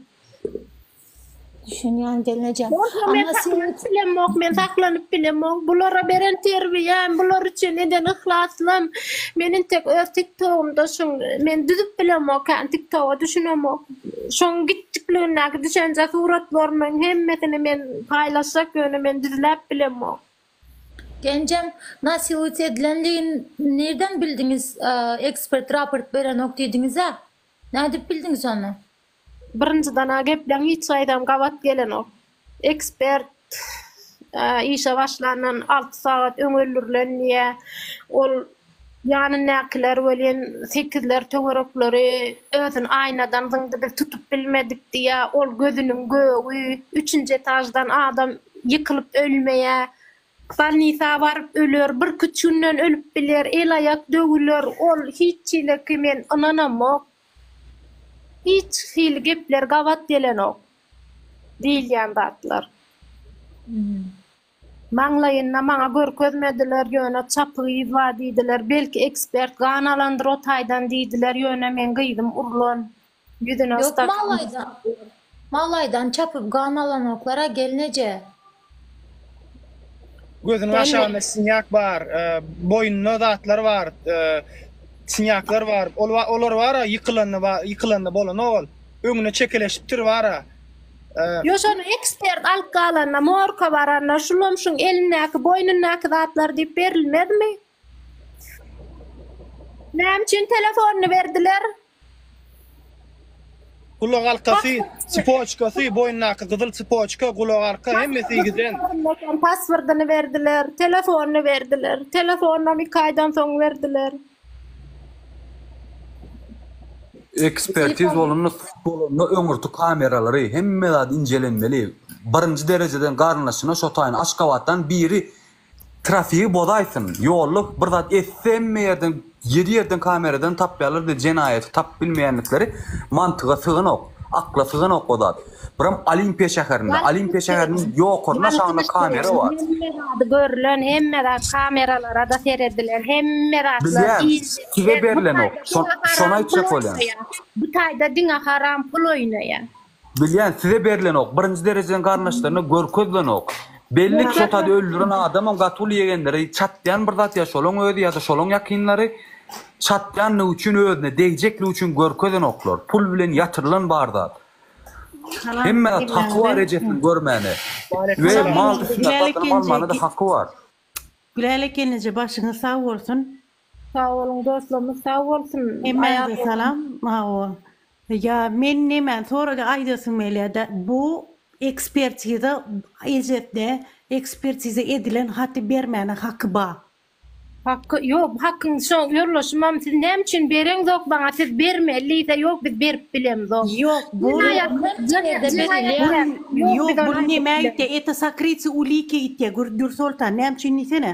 Düşünýän gelnejem. Bolsa men Amma sen saklanyp bilemok, men saklanyp bilemok. Bulara beren terbiýäm, bular üçin eden yhlasym. Men intek öz TikTogumda şun, men düzüp bilemokän, TikToga düşünemok. Şoň gitjikligindäki düşenje suratlarymyň hemmesini men paýlaşjak, ýöne men düzläp bilemok. Genjem, nasiwüt edilendigin nirden bildiňiz, ekspert raport berenok diýdiňiz-ä? Nädip bildiňiz ony? Birinjiden-ä gepleň hiç taýdam gabat gelenok. Ekspert işe başlandan alty sagat öň öldürilen diýýär. Ol ýanyndakylar welin sekizler töwerekleri özüni aýnadan zyňdy, biz tutup bilmedik diýýär. Ol gözüniň gögi, üçünji etaždan adam ýykylyp ölmeýär. Bolnisa baryp öler, birküç günden ölüp biler, el-aýak döwüler. Ol hiç çileki men ynanamok. Hiç hili gepler gabat gelenok. Diýilýän zatlar. Maňlaýynda maňa görkezmediler, ýöne çapygy yz bar diýdiler. Belki ekspert gan alandyr o taýdan diýdiler, ýöne meň gyzym urlan. Ýüzüne stakan. Ýok, maňlaýdan çapyp gan alanoklar-a gelneje. Gözüniň aşagynda sinýak bar, boýnunda zatlar bar, sinýaklar bar. Ol olar bara ýykylanda bar, ýykylanda bolanok ol. Öňüne çekeleşipdir bara. Ýok, şony ekspert alyp galanda, morka baranda, şulam şuň elindäki, boýnundaky zatlar diýip berilmezmi? Näme üçin telefonyny berdiler? Gulagalkasy, tsypoçkasy, boýnundaky gyzyl tsypoçka, gulagalka, hemmesi giden. Paswordyny berdiler, telefonyny berdiler. Telefonynam iki aýdan soň berdiler. Ekspertiz bolanda, sud bolanda öňürti kameralary, hemme zat injelenmeli. Birinji derejeden garyndaşyna şo taýyn Aşgabatdan biri Trafigi bozaýsyn, ýolda bir zat etse hemme ýerden ýedi ýerden kameradan tapýarlar diýip jenaýaty tapyp bilmeýänlikleri mantyga syganok, akla syganok o zat. Biram Olimpiýa şäherinde, Olimpiýa şäheriniň ýokaryn aşagynda kamera bar. Hemme zady görlen, hemme zat kameralarada seredilen, hemme zatlar diýildi. Bilýän, size berlenok, şony aýtjak bolýan. Bu taýda diňe haram pul oýnaýar. Bilýän size berlenok birinji derejeden garyndaşlaryna görkezlenok belli çotady öldüren adamam gaty uly ýegenleri çatýan bir zat ýa şolaň özi ýada şolaň ýakynlary çatýanlygy üçin özüne degjeklik üçin görkezenoklar pul bilen ýatyrylan bar zat hemme zat haky bar ejesini görmäne we mal dysynda satyn almana da haky bar. Gülälek gelneje başyňyz sag bolsun. Sag boluň doslorymyz sag bolsun. Hemmäňize salam Mawo. Ýa men nemäni sorady aýdasym gelýärdi. Bu ekspertiza ejetde ekspertiza edilen haty bermäne haky ba. Haky ýok hakyň şo ýoldaşymam siz näme üçin bereňzok maňa siz bermeli diýse ýok biz berip bilemzok. Ýok bu Ýok bu nemäýitýä eta sakryty ulike ýitýä Dürsoltan näme üçin diýsene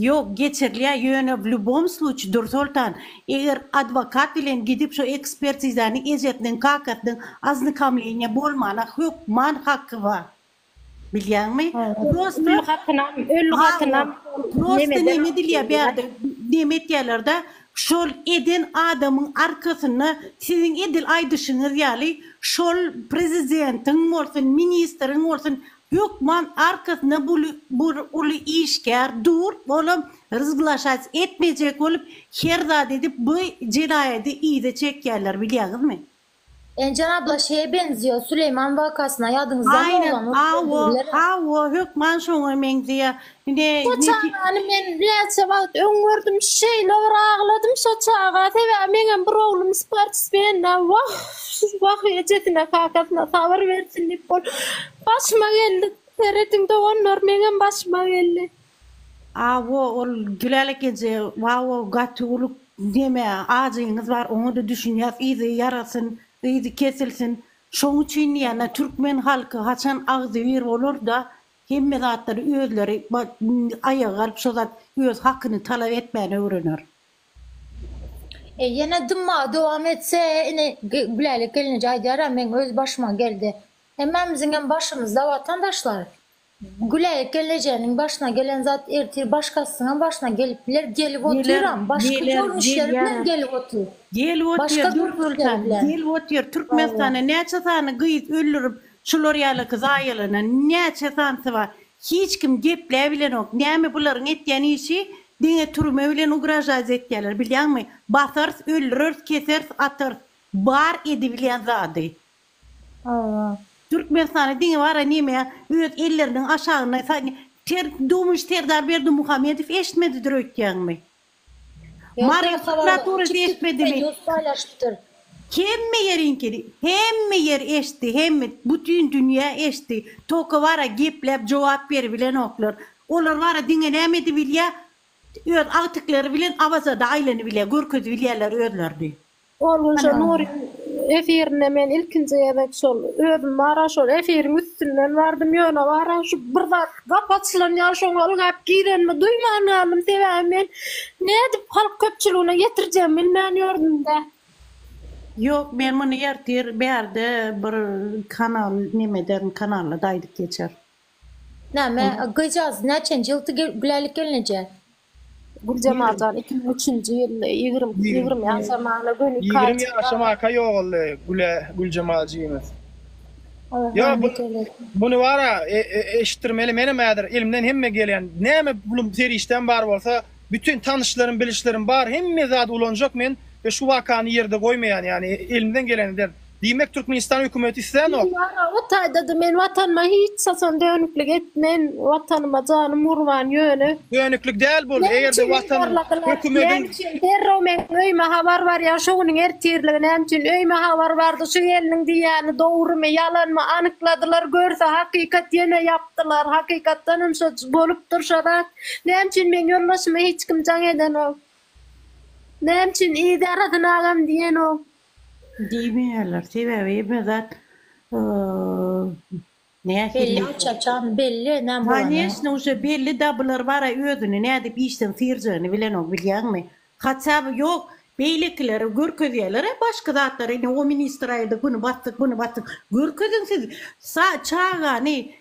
Ýok, geçirilýär, ýöne w lýubom sluçy, Dürsoltan, eger adwokat bilen gidip şu ekspertizany ejesiniň, kakasynyň oznykomleniýa bolmana hök man haky bar. Bilýäňmi? Prosta, Ölü hatynam, ölü hatynam Hawa, şol prosta nemeden neme dilýär alýarlar. bärde, neme etýärler-de, şol eden adamyň arkasynda siziň edil aýdyşyňyz ýaly şol prezidentiň bolsun, ministriň bolsun Hökman arkasynda buly bir uly işgär dur, olam rzglaşac etmejek bolup her zat edip bu jenaýady yza çekýärler bilýaňizmi. Ençen abla şeýe benziýa Süleýman wakasyna ýadyňyzdamy oglan ot Aýnen awo berdiler. Awo hökman şoňa meňzeýä Ine Şo neti çagany men näçe wagt öň gördüm şeýle bir agladym şo çaga sebäbi meňem bir oglum sportsmenda wah wah ejesine kakasyna sabyr bersin diýip bol başyma geldi serediň doganlar meňem başyma geldi. Awo ol Gülälek eje wawo gaty uly neme ajyňyz bar oňada düşünýäs yzy ýarasyn yzy kesilsin şoň üçin diýýän türkmen halky haçan agzybir bolarda Hemme zatlary özleri aýaga galyp şo zat öz hakyny talap etmäni öwrener. E ýene dymmagy dowam etse ine Gülälek gelneje aýdýara meň öz başyma geldi. Hemmämiziňem başymyzda watandaşlar. Gülälek gelnejäniň başyna gelen zat ertir başgasynyňam başyna gelip biler gelip otyram başga görnüşleri bilen gelip otyr. Gelip otyr dürli bolsa gelip otyr Türkmenistanda näçe sany gyz öldürip Şular ýaly gyz aýalana näçe sansa bar. Hiç kim gepläbilenok. Näme bularyň etýän işi diňe türme bilen ugražaýz etýäler bilýäňmi. Basarys öldüreris keseris atarys. Bar edibilýän zady. Hawa. Türkmenistanda diňe bara neme öz elleriniň aşagynda ter dumyş Serdar Berdimuhamedow eşitmedidir öýtýäňmi. Mary prokuraturasy eşitmedimi? Ýurt paýlaşypdyr. Hemme ýeriňkini, hemme ýer eşitdi, hemme, bütin dünýä eşitdi. Toka bara gepläp jogap beribilenoklar. Olar bara diňe näme edibilýär, öz agtyklary bilen Awazada aýlanybilýär, görkezibilýärler özlerini. Ol gün şo Nuryň efirinde men ilkinji gezek şol özüm bara şol efiriň üstünden bardym, ýöne bara şu bir zat gapy açylan ýaly şoňa ylgap girenimi duýman galdym, sebäbi men nädip halk köpçüligine ýetirjegimi bilmän ýördüm-dä. Ýok, men muny ertir bärde bir kanal nemeden kanalda-da aýdyp geçerin. Näme, gyzjagaz näçenji ýyldy Gülälek gelneje? Güljemal jan iki müň üçünji ýyl ýigrimi ýigrimi ýaşamagyna göni iki aý ýaşamaka ýogaldy Güle Güljemal jigimiz ýo muny bara eşitdirmeli menem häzir elimden hemme gelýän näme pulum serişdäm bar bolsa bütin tanyşlarym bilişlerim bar hemme zady ulanjak men şu wakany ýerde goýmaýan ýani elimden gelen ederin. Diýmek Türkmenistan hökümeti islänok. Ýa o taýdada men watanyma hiç haçan dönüklik etmen watanyma janym gurban ýöne. Dönüklik däl bul Näme eger-de üçin watan zorladylar hökümediň. Näme üçin derrew meň öýüme habar barýar şu günüň ertirligi näme üçin öýüme habar bardy şu gelniň diýýäni dogrymy ýalanmy anykladylar görse hakykat ýene ýapdylar hakykatdanam şo bolupdyr şo zat näme üçin meň ýoldaşyma hiç kim jaň edenok näme üçin yz ýarasyn agam diýenok Diýmeýärler, sebäbi emme zat Belli açan çagny belli näme bolany. Kanyesne uje belli da bular bara özüni nädip işden syrjagyny bilenok bilýäňmi. Hatçaby ýok beýlekileri görkezýälere başga zatlary indi o ministr aýyrdy güni batdyk muny batdyk görkeziň siz çagany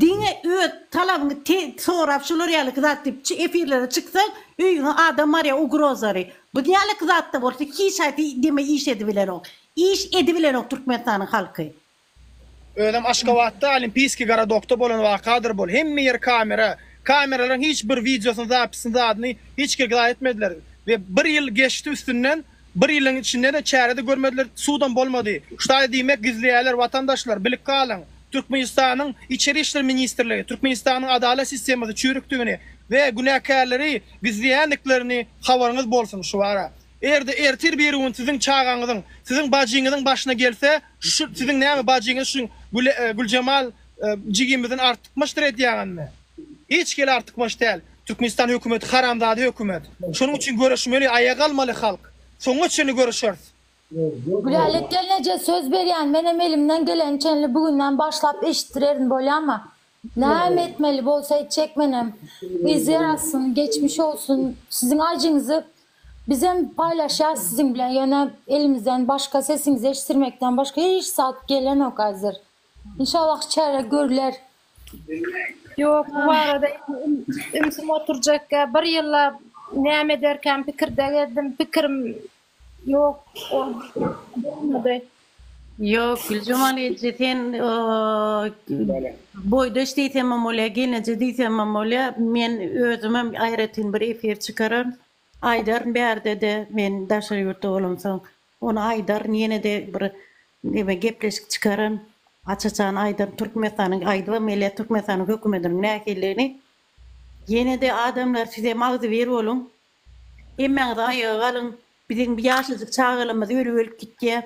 Diňe öz talabyňy te sorap şular ýalyky zat diýip çy efirlere çyksaň öýüňe adam barýa ugrozary bu ýalyky zatda bolsa hiç haýsy deme iş edibilenok iş edibilenok türkmenistanyň halky. Özem Aşgabatda Olimpiýskiý gorodokda bolan wakadyr bul hemme ýer kamera kameralaryň hiç bir wideosyny zapisyny zadyny hiç kek zaý etmediler we bir ýyl geçdi üstünden Bir ýylyň içinde-de çärede görmediler, sudam bolmady. Ştaýy diýmek gizleýärler watandaşlar, bilip galyň. Türkmenistanyň Içeri işler ministrligi Türkmenistanyň adalat sistemasy çüýrükdigini we günäkärleri gizleýändiklerini habaryňyz bolsun şu wara. Erde ertir bir gün siziň çagaňyzyň, siziň bajyňyzyň başyna gelse şu siziň näme bajyňyz şu Güljemal jigimizin artykmaçdyr edýäňizmi? Hiç hili artykmaç däl. Türkmenistan hökümeti haramzada hökümet. Şonuň üçin göreşmeli, aýaga almaly halk. Soňuna çenli göreşeris. Gülälek gelneje söz berýän menem elimden geleni çenli bu günden başlap eşitdirerin bolýama näme etmeli bolsa etjek menem yz ýarasyn geçmiş olsun siziň ajyňyzy bizem paýlaşýas siziň bilen ýöne elimizden başga sesiňizi eşdirmekden başga hiç zat gelenok azir inşallah çäre görüler Ýok, bu barada ümsüm oturjakka, bir ýyllap näme ederkäm pikirde gezdim, pikirim ýok bolmady. Ýok, Güljemal eje, sen boýdaş diýsemem bolýar, gelneje diýsemem bolýar, men özümem aýratyn bir efir çykararyn, aýdaryn bärde-de men daşary ýurtda bolamsoň. Ony aýdaryn ýenede bir neme gepleşik çykaryn aç açan aýdaryn Türkmenistanyň aýdybam gelýär Türkmenistanyň hökümetiniň nähilligini ýenede adamlar sizem agzybir boluň hemmäňiz aýaga galyň biziň bu ýaşajyk çagalamyz ölüp ölüp gitýär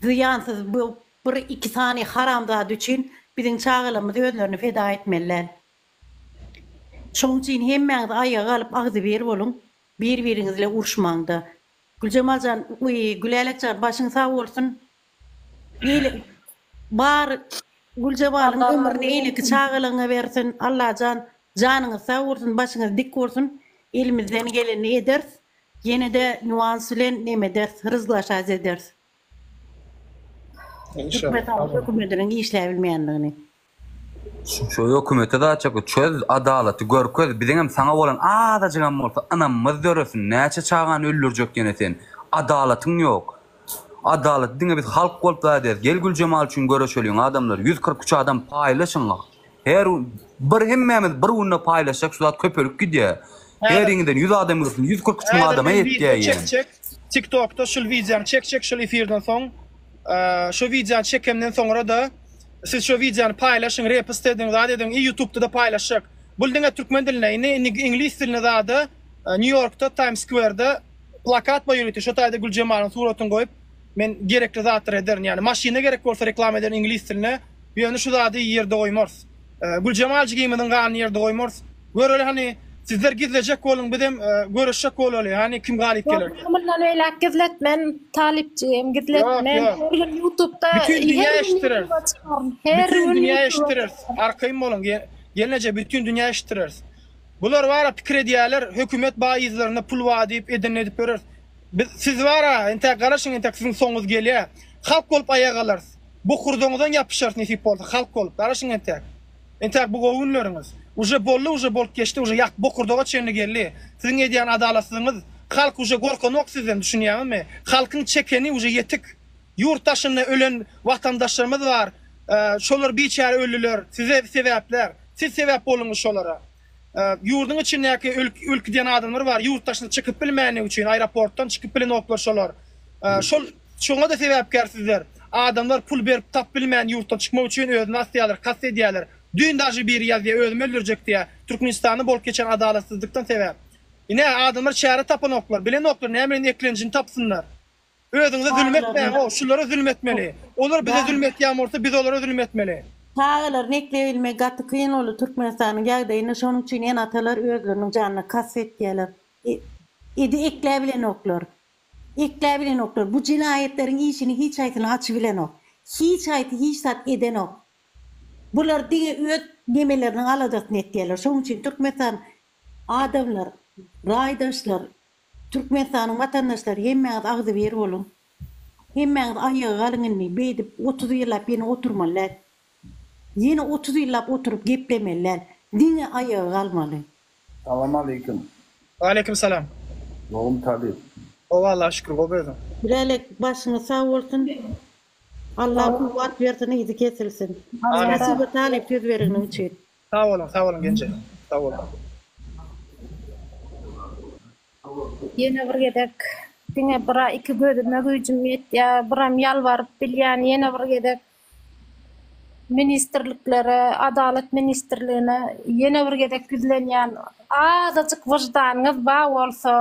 zyýansyz bu bir iki sany haramzada üçin biziň çagalamyz özlerini feda etmeliler şoň üçin hemmäňiz aýaga galyp agzybir boluň bir biriňizle uruşmaňda Güljemal jan we Gülälek jan başyň sag bolsun il bar Güljebalyň ömrüni eýleki çagalygyňa bersin Allajan janyňyz sag bolsun başyňyz dik bolsun elimizden gelenini ederis ýenede nýuans bilen nemederis ryzlaşas ederis türkmen sag bol hökümetiniň işläbilmeýändigini. Şu hökümete zatçaky çöz, adalaty görkez, biziňem saňa bolan azajygam bolsa ynamymyz döresin, näçe çagany öldürjek ýene sen, adalatyň ýok. Adalaty diňe biz halk bolup zat ederis, gel Güljemal üçin göreşeliň adamlar, ýüz kyrk üç adam paýlaşyň, her bir hemmämiz bir günde paýlaşsak şu zat köpelip gidýär, heriňizden ýüz adam girsin, ýüz kyrk üç müň adama ýetýär ýene. Tik tokda şul wideony çek çek şul efirden soň. Şu wideony çekemden soňra-da siz şu wideony paýlaşyň, repst ediň, zat ediň i ýutubda-da paýlaşjak. Bul diňe türkmen dilinde, indi iňlis dilinde zada Nýu Ýorkda Taýms Skwerda plakat bar ýörite, şo taýda Güljemalyň suratyny goýup men gerekli zatlary ederin. Ýagny maşynda gerek bolsa reklama ederin iňlis dilinde, ýöne şu zady ýerde goýmarys. Güljemal jigimiziň ganyny ýerde goýmarys. Göreli hany sizler gizlejek boluň bizem görüşjek bolaly hany kim galyp geler. Ýok mundan beýläk gizletmen Talyp jigim gizletmen her gün ýutubda bütin dünýä eşitdireris her gün dünýä eşitdireris arkaýyn boluň gelneje bütin dünýä eşitdireris bular bara pikir edýärler hökümet baý yzlaryna pul bar diýip edenini edip bereris biz siz bara entä garaşyň entä siziň soňuňyz gelýär halk bolup aýak alarys Bokurdaňyzdan ýapyşarys nesip bolsa halk bolup garaşyň entäk entäk bu gowy günleriňiz uje bolly uje bolup geçdi uje ýak bokurdaga çenli gelli siziň edýän adalatsyzyňyz halk uje gorkanok sizden düşünýäňizmi halkyň çekeni uje ýetik ýurt daşynda ölen watandaşlarymyz bar şolar biçäre ölliler size sebäpler siz sebäp bollyňyz şolara Ýurduň içindäki ölüp gidýän adamlar bar, ýurt daşyna çykyp bilmänligi üçin, aeroportdan çykyp bilenoklar şolar. Şol şoňa-da sebäpkär sizler. Adamlar pul berip tap bilmän ýurtdan çykmak üçin özüni asýarlar, kast edýärler. Düýn daži biri ýazýa özümi öldürjek diýä, Türkmenistanda bolup geçen adalatsyzlykdan sebäp. Ine, adamlar çäre tapanoklar, bilenoklar näme bilen eklenjini tapsynlar. Özüňize zülüm etmäň-ow, şulara zülüm etmeli. Olar bize zülüm etýän bolsa, biz olara zülüm etmeli. Çagalaryny ekleýbilmek gaty kyn boldy Türkmenistanyň ýagdaýynda şonuň üçin ene-atalar özleriniň janyna kast etýärler. Edi ekläbilenoklar. Ekläbilenoklar. Bu jenaýatleriň işini hiç haýsyny açybilenok. Hiç haýsy hiç zat edenok. Bular diňe öz nemeleriniň aladasyny etýärler. Şonuň üçin Türkmenistan adamlar, raýdaşlar Türkmenistanyň watandaşlary hemmäňiz agzybir boluň. Hemmäňiz aýaga galyň indi, beýdip otuz ýyllap ýene oturmaly däl. Ýene otuz ýyllap oturyp geplemeli däl. Diňe aýaga galmaly. Salam aleýkum. Waleýkim salam. Gowmy talyp. Gowy Allaha şükür gowy özüň. Bilalek başyňyz sag bolsun Allah kuwwat bersin yzy kesilsin. Amin. Spasibo talyp söz beregniň üçin. Sag boluň sag boluň genje sag boluň. Ýene bir gezek diňe bira iki gözüme güýjüm ýetýä biram ýalbaryp bilýän ýene bir gezek ministrliklere adalat ministrligine ýene bir gezek ýüzlenýän azajyk wyždanyňyz ba bolsa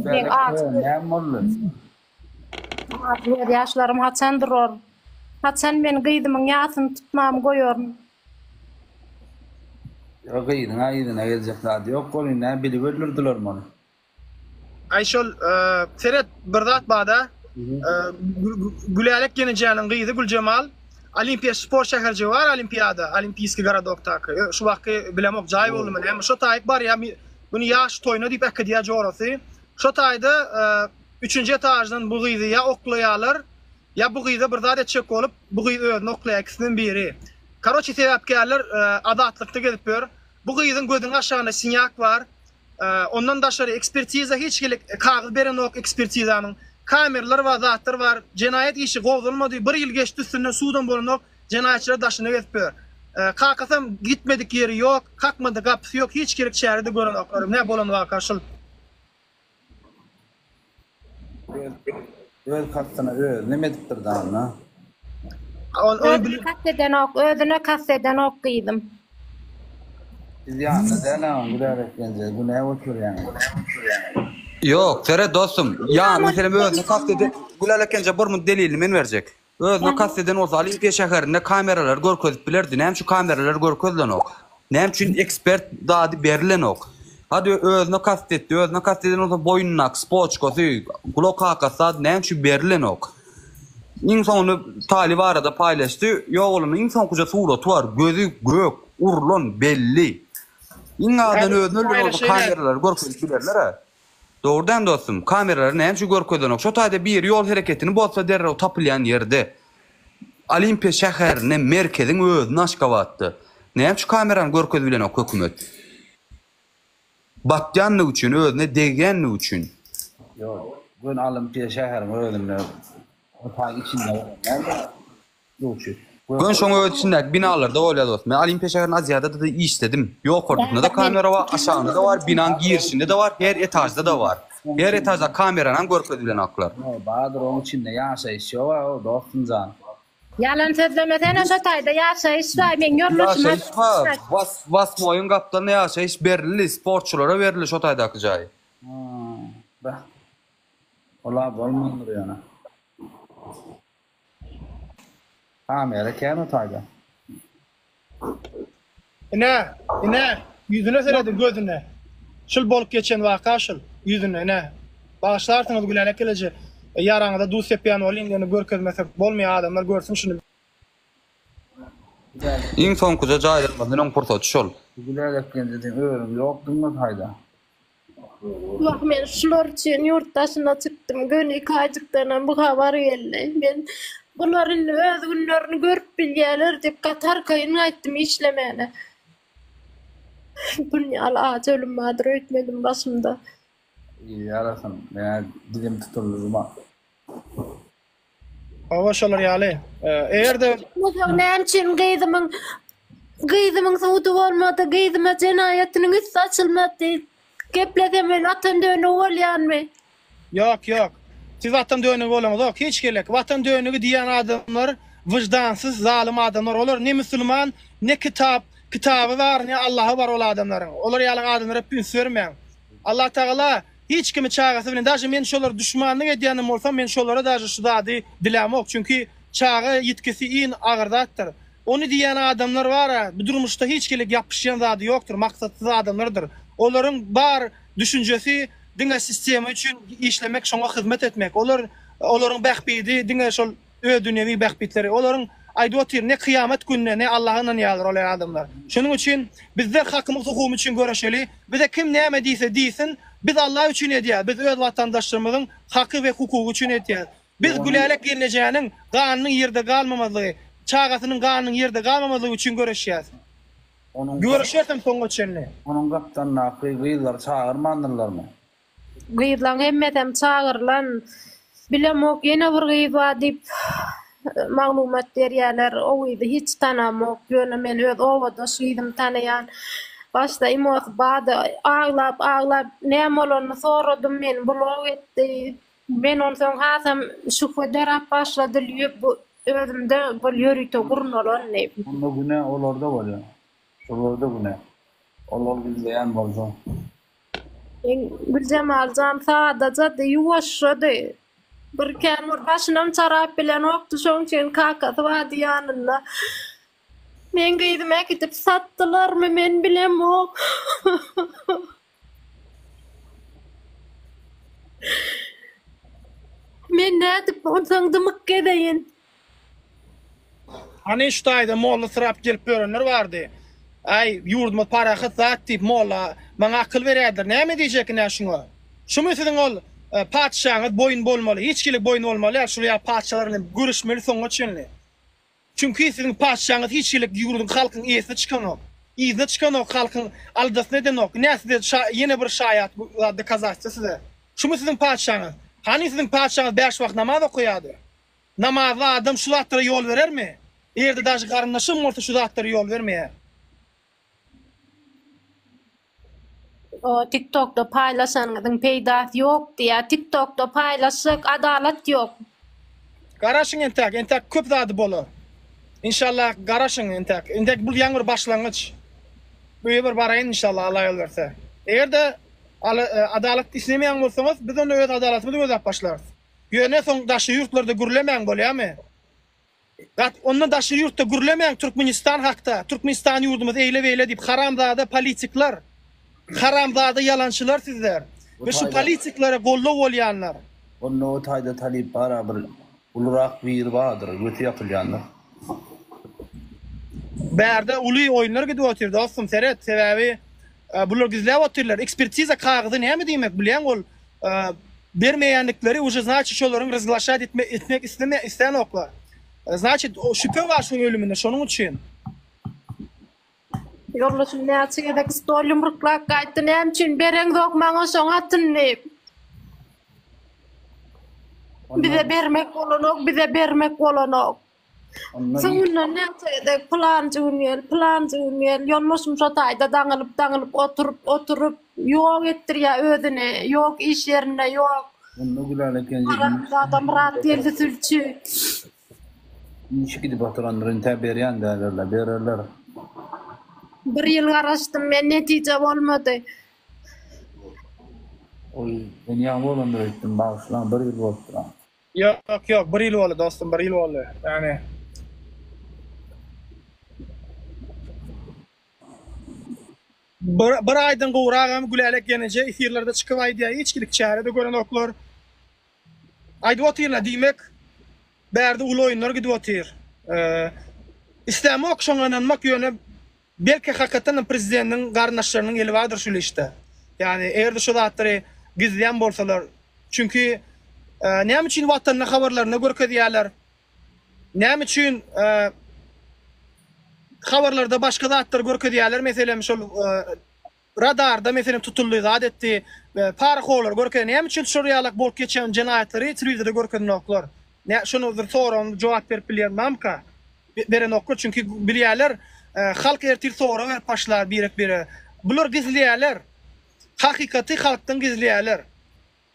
Meň aty Näme boldy? Aty göz ýaşlarym haçan durar? Haçan men gyzymyň ýasyny tutmamy goýaryn? Ýa gyzyň-a yzyna geljek zady ýok welin nä biliber durdylarmy ony? Aý şol seret bir zat bada Gülälek ýenejäniň gyzy Güljemal Olimpiýa sport şäherjigi bar Olimpiýada Olimpiýskiý garadok taky şu wagtky bilemok jaý boldumy näme şo taýyp barýa Muny ýaş toýuna diýip äkidýär jorasy. Şo taýda üçünji etaždan bu gyzy ýa oklaýarlar, ýa bu gyza bir zat etjek bolup, bu gyz özüni oklaýar, ikisinden biri. Karoçi sebäpkärler azatlykda gezip ýör. Bu gyzyň gözüniň aşagynda sinýak bar. Ondan daşary ekspertiza hiç hili kagyz berenok ekspertizanyň. Kameralar bar, zatlar bar. Jenaýat işi gozgalmady. Bir ýyl geçdi üstünden sudam bolanok. Jenaýatçylar daşyny gezip ýör. Kakasam gitmedik ýeri ýok, kakmadyk gapysy ýok, hiç gerek çäre-de görenoklar. Nä bolan waka şul. Öz kastyna öz neme edipdir dana. Ol ol Özüne kast edenok, özüne kast edenok gyzym. Biz ýanyna däläň güler etgenje günä oturýaň. Ýok, seret dostum. Ýa meselem özüne kast eden Gülälek enje bir munt delilini men berjek. Özüne kast eden bolsa Olimpiýa şäherinde kameralary görkezip bilerdi. Näme üçin kameralary görkezilenok? Näme üçin ekspert dady berilenok? Hadi özüne kast etdi. Özüne kast eden bolsa boýnundaky spoçkasy, gulak kakasy dady näme üçin berilenok? Iň soňunda talyp arada paýlaşdy. Ýok onuň iň soňkuja suraty bar. Gözi gök, urlan, belli. Iň azyndan özüni öldüren bolsa kameralary görkezip bilerler-ä. Dogrudan dostum kameralary nämeçe görkezenok şo taýda biri ýol hereketini bozsa derrew tapylýan ýerde Olimpiýa şäherinde merkeziň özünde Aşgabatda nämeçe kamerany görkezip bilenok hökümet batýandygy üçin özüne degýändigi üçin. Ýok, göni Olimpiýa şäheriň özünde, o taýyň içinde bolan däldir. Göni şoň öz içindäki binalarda bolýar dostum. Men Olimpiýa şäherinde Aziadada-da işledim. Ýokarkysynda-da kamera bar, aşagynda-da bar, binaň girişinde-de bar, her etažda-da bar. Her etaždaky kameranam görkezilenoklar. Ýok, bardyr, oň içinde ýaşaýyş ýoga, o, dostum jan. Ýalan sözlemesene, şo taýda ýaşaýyş bar, meň ýoldaşym Ýaşaýyş aýtdy bar, şo taýda. was, wasmoýyň gapdalynda ýaşaýyş berildi, sportçulara berildi şo taýdaky jaý. Haa, beh. Ol-a bolmandyr ýöne. Kamera käme taýda. Ine, ine, ýüzüne serediň, gözüne. Şul bolup geçen waka şul, ýüzüne, ine. Bagyşlarsyňyz Gülälä Keleje, ýaraňyza duz sepýän bolyň, ýöne görkezmesek bolmaýar, adamlar görsün şuny. Iň soňkuja jaýlanmazdan öň pursaty şol. Gülälek geldi diýen örüň ýokdumy taýda. Wah, men şular üçin ýurt daşyna çykdym. Göni Kajykdanam bu habar geldi. Men, Bular indi öz günlerini görüp bilýärler diýip, gaty arkaýyn gaýtdym işlemäne. Bun ýaly ajy ölüm bardyr öýtmedim başymda. Ýarasyn, men-ä dizim tutuldy, Zuma. Hawa şolar ýaly. Eger-de Näme üçin gyzymyň gyzymyň sudy bolmady, gyzyma jenaýatynyň üsti açylmady? Geplesem men Watan dönügi bolýanmy? Ýok, ýok. Siz Watan dönügi bolaňzok. Hiç gerek. Watan dönügi diýýän adamlar wyždansyz, zalym adamlar. Olar ne musulman, ne kitap, kitaby bar, ne Allahy bar ol adamlaryň. Olar ýaly adamlara üns bermäň. Allatagala Hiç kimi çagasy bilen daže men şolar duşmanlyk edýänem bolsam men şolara daže şu zady dilämok çünki çaga ýitkisi iyn agyr zatdyr ony diýýän adamlar bara bu durmuşda hiç kilik ýapyşýan zady ýokdyr maksatsyz adamlardyr olaryň bar düşünjesi diňe sistema üçin işlemek şoňa hyzmet etmek olar olaryň bähbidi diňe şol öz dünýewi bähbitleri. Olaryň aýdyp otyr, ne kyýamat gününe, ne Allaha ynanýarlar ol adamlar. Şonuň üçin bizler hakymyz hukumyz üçin göreşeli, bize kim näme diýse diýsin, biz Allah üçin edýäs, biz öz watandaşlarymyzyň haky we hukugy üçin etýäs. Biz Gülälek gelnejäniň ganynyň ýerde galmamazlygy, çagasynyň ganynyň ýerde galmamazlygy üçin göreşýäs. Göreşersem soňa çenli. Onuň gapdalyndaky gyzlary çagyrmandyrlarmy? Gyzlaň hemmesem çagyrylan. Bilemok ýene bir gyz bar diýip maglumat berýäler. O gyzy hiç tanamok. Ýöne men öz obadaş gyzymy tanaýan. Başda imosy bady aglap aglap näme bolanyny soradym meni blok etdi. Men onsoň hasam şübhe dörap başlady lýüp bu özümde bir ýörite gurnalandy. Onda günä olarda bolýa. Şolarda günä. Olar gizleýän bolsa. Güljemaljan sadajady, ýuwaşjady. Birkän bir başynam çarap bilenokdy, şoň üçin kakasy bardy ýanynda. Meň gyzymy äkidip satdylarmy, men bilemok. Men nädip onsoň dymyk gezeýin? Hany şu taýda molla syrap gelip ýörenler bardy. Aý, ýurdumyz parahat zat diýip molla maňa akyl berýärdiler. Näme diýjek ine şuňa? Şumy siziň ol patyşaňyz boýun bolmaly, hiç hili boýun bolmaly ýaly şul ýaly patyşalar bilen göreşmeli soňuna çenli. Çünki siziň patyşaňyz hiç hili ýurduň halkyň eýesine çykanok. Yzyna çykanok, halkyň aldasyny edenok. Ine size ýene bir şaýat dokazatçy size. Şumy siziň patyşaňyz? Hany siziň patyşaňyz bäş wagt namaz okaýardy? Namazly adam şu zatlara ýol berermi? Erde daşy garyndaşam bolsa şu zatlara ýol bermeýär. O tiktokda paýlaşanyňyzyň peýdasy ýok diýýä tiktokda paýlaşsak adalat ýok. Garaşyň entäk entäk köp zady bolar. Inşallah garaşyň entäk entäk bul ýaňy bir başlangyç. Öýe bir baraýyn inşallah Allah ýol berse. Eger-de adalat islemeýän bolsaňyz biz onda öz adalatymyzy gözläp başlarys. Ýöne soň daşy ýurtlarda gürlemäň bolýamy? Gat onda daşy ýurtda gürlemäň Türkmenistan hakda, Türkmenistan ýurdumyz eýle beýle diýip haramzada politiklar, haramzada ýalançylar sizler we şu politiklere goldaw bolýanlar. Onda o taýda talyp bara bir ulurak biri bardyr göti ýapylýandyr. Bärde uly oýunlar gidip otyr dostum seret sebäbi Bular gizläp otyrlar. Ekspertiza kagyzy näme diýmek bilýäň ol bermeýändikleri uje znaçit şolaryň ryzglaşat etmek etmek isleme islänoklar. Znaçit şüpe bar şuň ölümine şonuň üçin. Ýoldaşym näçe gezek stol ýumruklap gaýtdy näme üçin bereňzok maňa şoň atyn diýip. Bize bermek bolanok bize bermek bolanok. Soňundan nätse-de pylanjy gün gel, pylanjy gün gel, ýolbaşym şo taýda daňylyp-daňylyp oturyp, oturyp, ýok etdirýär özüni, ýok iş ýerinde, ýok. Onda Gülala Kenje iş. Maratmyradow, Myratgeldi sülçi. Işi gidip oturandyr, üntä berýän däldir-le, bererler. Bir ýyl garaşdym men, netije bolmady. Oý, sen ýaňy bolandyr öýtdüm, bagyşlaň, bir ýyl bolupdyr-a. Ýok ýok bir ýyl boldy dostum bir ýyl boldy ýagny. Bir aýdan gowragam Gülälek ýeneje efirlerde çykyp aýdýar içkilik çärede görenoklar. Aýdyp otyrlar diýmek bärde uly oýunlar gidip otyr. Islämok şoňa ynanmak ýöne Belki hakykatdanam prezidentiň garyndaşlarynyň eli bardyr şul işde. Ýagny eger-de şu zatlary gizleýän bolsalar, çünki näme üçin watanyny habarlarynda görkezýärler, näme üçin habarlarda başga zatlary görkezýärler meselem şol Radarda meselem tutuldy zat etdi we parahollar görkezdi näme üçin şol ýalak bolup geçen jenaýatlary telewizorda görkeznoklar nä şony bir soragym jogap berip bilýän mamka berenoklar çünki bilýäler halk ertir sorag berip başlar birek bire bular gizleýäler hakykaty halkdan gizleýäler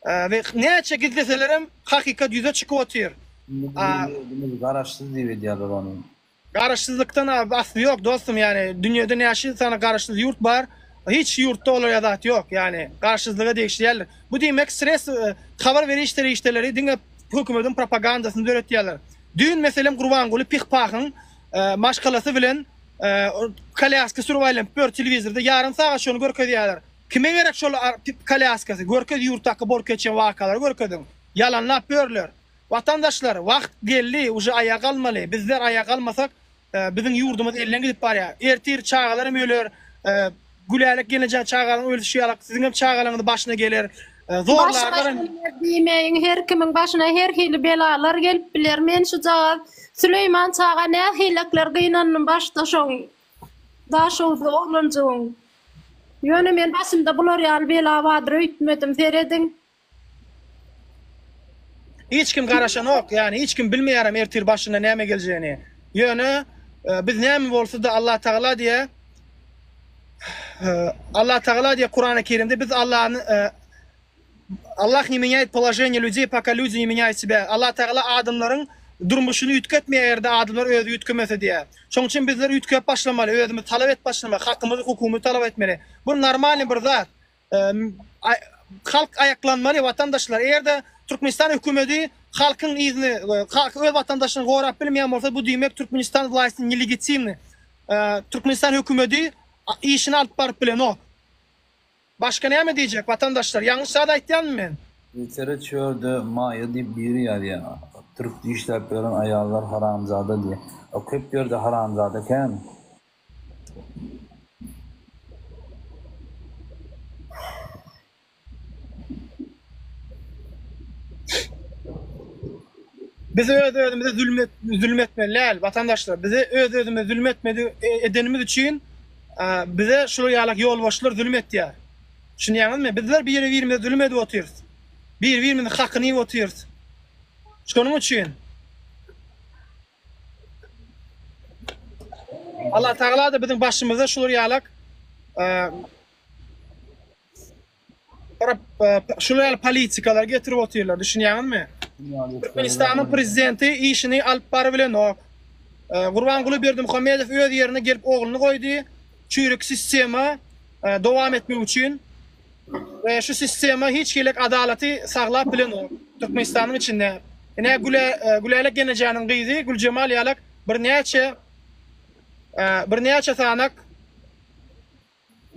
we näçe gizleselerem hakykat ýüze çykyp otyr. Garaşsyz diýip edýärler ony. Garaşsyzlykdan az asly ýok dostum ýani dünýede näçe sany garaşsyz ýurt bar hiç ýurtda olara zat ýok ýani garaşsyzlyga degişli däldir bu diýmek sres habar beriş serişdeleri diňe hökümediň propagandasyny döretýärler düýn meselem gurbanguly pih pahyň maşgalasy bilen kolýaska sürüp aýlanyp ýör telewizorda ýarym sagat şony görkezýärler kime gerek şol kolýaskasy görkez ýurtdaky bolup geçen wakalary görkeziň ýalanlap ýörler Watandaşlar wagt geldi uje aýak almaly bizler aýak almasak biziň ýurdumyz elden gidip barýar ertir çagalaram öler Gülälek gelneje çagalaň ölüşi ýalak siziňem çagalaňyz başyna geler zorlarlaram diýmeýiň her kimiň başyna her hili belalar gelip biler men şujagaz Süleýman çaga nähilekler gynandym başda şoň daşowuzly oglanjygyň ýöne men başymda bular ýaly bela bardyr öýtmedim serediň Hiç kim garaşanok, ýagny hiç kim bilmeýärem ertir başyna näme geljegini. Ýöne biz näme bolsa-da Allatagala diýe Allatagala diýe Kurany Kerimde biz Allany Allah ne menýaýt položeniýe lýudey poka lýudi ne menýaýt sebä. Allatagala adamlaryň durmuşyny üýtgetmeýär eger-de adamlar özi üýtgemese diýe. Şoň üçin bizler üýtgäp başlamaly, özümiz talap edip başlamaly, hakymyzy, hukugymyzy talap etmeli. Bu normalny bir zat. Halk aýaklanmaly watandaşlar. Eger-de Türkmenistan hökümedi halkyň yzyny, öz watandaşyny gorap bilmeýän bolsa, bu diýmek Türkmenistan wlaýsty nelegitimni. Türkmenistan hökümedi işini alyp baryp bilenok. Başga näme diýjek watandaşlar? Ýalňyş zat aýtýanmy men? Eýsere çölde Maýa diýip biri ýazýar. Türk işläp ýören aýallar haramzada diýip. Köp ýerde haramzada kän. Biz öz-özümize zulm et, zulm etmeli däl, watandaşlar. Bize öz-özümize zulm etmedi e, edenimiz üçin bize şu ýalak ýolbaşçylar zulm etýär. Düşünýäňizmi? Bizler biri-birimize zulm edip otyrys. Bir-birimiziň hakyny iýip otyrys. Şonuň üçin Allah Tagala da biziň başymyza şular ýalak şular ýaly politikalar getirip otyrlar, düşünýäňizmi? Türkmenistanyň prezidenti işini alyp bary bilenok. Gurbanguly Berdimuhamedow öz ýerine gelip ogluny goýdy, çüýrük sistema dowam etmek üçin. we şu sistema hiç hilek adalaty saglap bilenok Türkmenistanyň içinde. Ine Güle Gülälek Genejäniň gyzy Güljemal ýalak birnäçe birnäçe sanak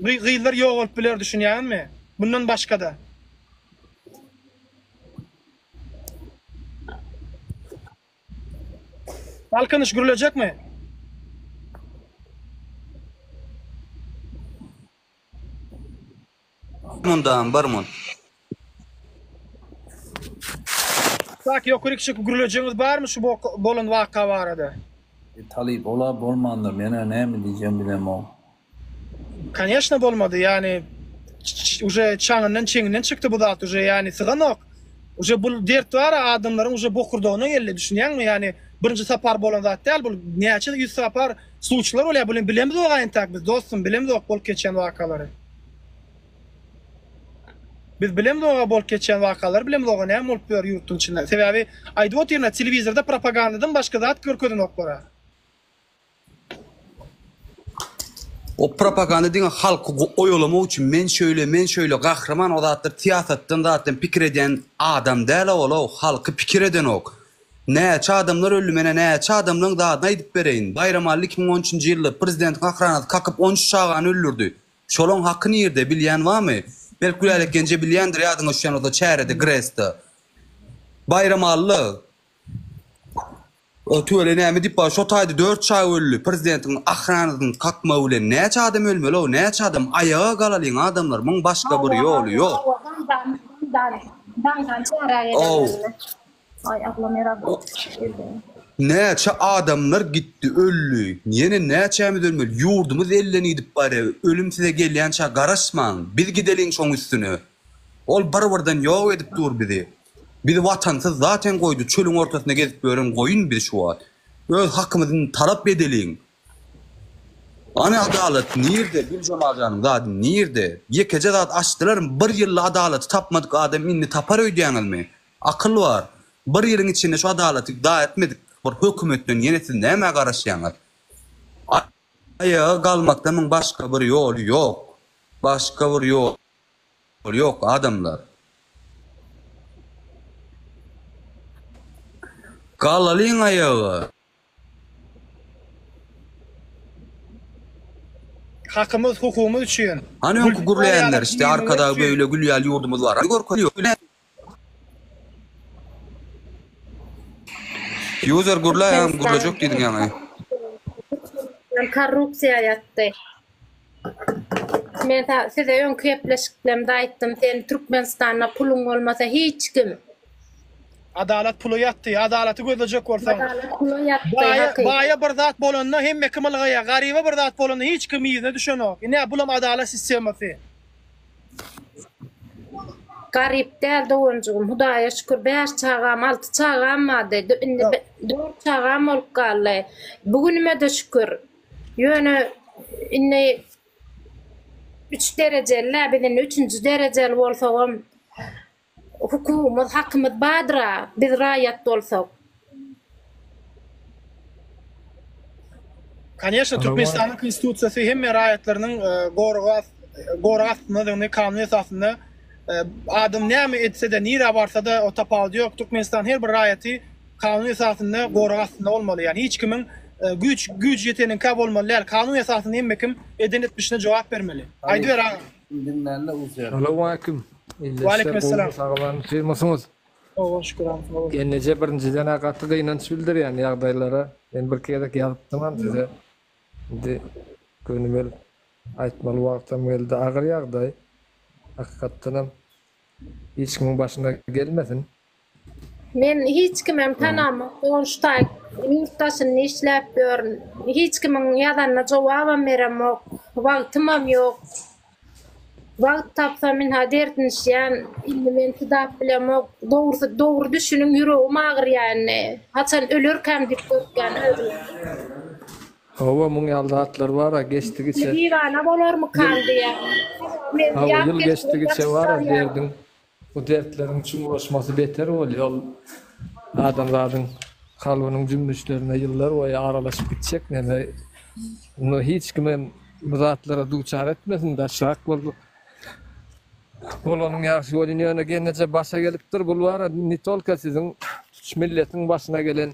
gyzlar ýok bolup biler düşünýäňizmi? Mundan başga-da. Galkynyş gürlejekmi? Mundam bir mun. Kak ýokaryk çykyp gürlejegiňiz barmy şu bolan waka barada. Eý talyp ola bolmanda menä näme diýjegim bilemok. Koneşno bolmady ýani uje çaňyndan çeňinden çykdy bu zat uje ýani syganok uje bul dert bara adamlaryň uje bokurdagyna geldi düşünýäňmi ýani birinji sapar bolan zat däl bul näçe ýüz sapar Suçlar bolýa bulen bilemizok aýntak biz dostum bilemizok bolup geçýän wakalary. Biz bilemizok bolup geçýän wakalary bilemizok näme bolup ýör ýurtun içinde. Sebäbi aýdyp otyrna telewizorda propagandadan başga zat görkezenoklara. O propaganda diňe halky oýalamak üçin men şöyle men şöyle gahryman o zatlar syýasatdan zatdan pikir edýän adam däl owola halky pikir edenok. Näçe adamlar öldi menä näçe adamlaň zadyny aýdyp bereýin Baýramally iki müň on üçünji ýylda prezidentiň akranasy kakyp on üç çagany öldürdi şolaň haky nirde bilýän bamy belk Gülälek ýenje bilýändir ýadyňa düşýän bolsa çärede Gresda Baýramally tüwele näme diýip bar şo taýda dört çaga öldi prezidentiň akranasyny kakmagy bilen näçe adam ölmeli o näçe adam aýaga galalyň adamlar muň başga bir ýoly ýok. Hawa hawa daňdan daňdan çärä gelen ölme. Ay ablam ýarag geldi. Näçe adamlar gitdi öldi ýene näçämiz ölmeli ýurdumyz elden gidip barýa ölüm size gelýänçä garaşmaň biz gideliň şoň üstüne ol bir birden ýok edip dur bizi bizi watansyz zaten goýdy çölüň ortasynda gezip ýören goýun biz şu wagt öz hakymyzy talap edeliň Hany adalat nirde Güljemal janyň zady nirde ýekeje zat açdylarmy bir ýylda adalaty tapmadyk adam indi tapar öýdýäňizmi Akyl bar. Bir ýylyň içinde şu adalaty juda etmedik bir hökümetden ýene siz nämä garaşýaňyz? Aýaga galmakdan muň başga bir ýoly ýok. Başga bir ýoly ýok adamlar. Galalyň aýaga. Hakymyz hukugymyz üçin. Hany öňki gürleýänler işte arkadagy beýle gülýäl ýurdumyz bar görkeli ýok ine. User gürläýäňem gürlejek diýdiň ýaňy. Korrupsiýa ýatdy. Men size öňki gepleşiklerimde aýtdym, sen Türkmenistanda puluň bolmasa hiç kim. Adalat pula ýatdy. Adalaty gözlejek bolsaň. Adalat pula ýatdy. Baýa, baýa bir zat bolanda hemme kim ylgaýar. Garyba bir zat bolanda hiç kim yzyna düşenok. Ine bulam adalat sistemasy. Garyp däl doganjygym, Hudaýa şükür bäş çagam, alty çagam bardy. Indi dört çagam bolup galdy. Bu günüme-de şükür. Ýöne indi üç derejeli-dä, biz indi üçünji derejeli bolsagam hukugymyz, hakymyz bardyr-a, biz raýat bolsak. Koneşne, Türkmenistanyň Konstitusiýasy hemme raýatlarynyň gorag astyndadygyny, kanun esasynda adam näme etse-de, nirä barsa-da, o tapawudy ýok, Türkmenistan her bir raýaty kanun esasynda gorag astynda bolmaly ýani hiç kimiň güýç güýç ýeteniňkä bolmaly däl kanun esasynda hemme kim eden etmişine jogap bermeli aýdyber agam. Salowmaleýkim ille işler gowymy sag boluň sylmysyňyz. Sowa şükür agam sag boluň. Enneje birinjiden a gaty gynanç bildirýän ýagdaýlara men bir gezek ýazypdymam size indi gönümel aýtmaly wagtam geldi agyr ýagdaý hakykatdanam hiç kimiň başyna gelmesin Men hiç kimem tanamok, goňşy-taýy ýurt daşynda işläp ýörün. Hiç kimiň ýazanyna jogabam beremok, wagtymam ýok. Wagt tapsam ynha derdinişýän, indi men çydap bilemok. Dogrusy, dogry düşüniň, ýüregim agyrýar indi. Haçan ölerkäm diýip gorkýan özüm. Hawa, muň ýaly zatlar bar-a, geçdigiçe. Diwana bolarmykam diýýän. Hawa, ýyl geçdigiçe bar-a, derdiň Bu dertleriň çuňlaşmasy beter bolýar, ol adamzadyň kalbynyň jümmüşlerine ýyllar boýy aralaşyp gitjek, näme, muny hiç kim hem bu zatlara duçar etmesin, daşrak bolduk. Bolanyň ýagşy bolýn, ýöne geneje başa gelipdir, bul bara ne tolko siziň, tutuş milletiň başyna gelen.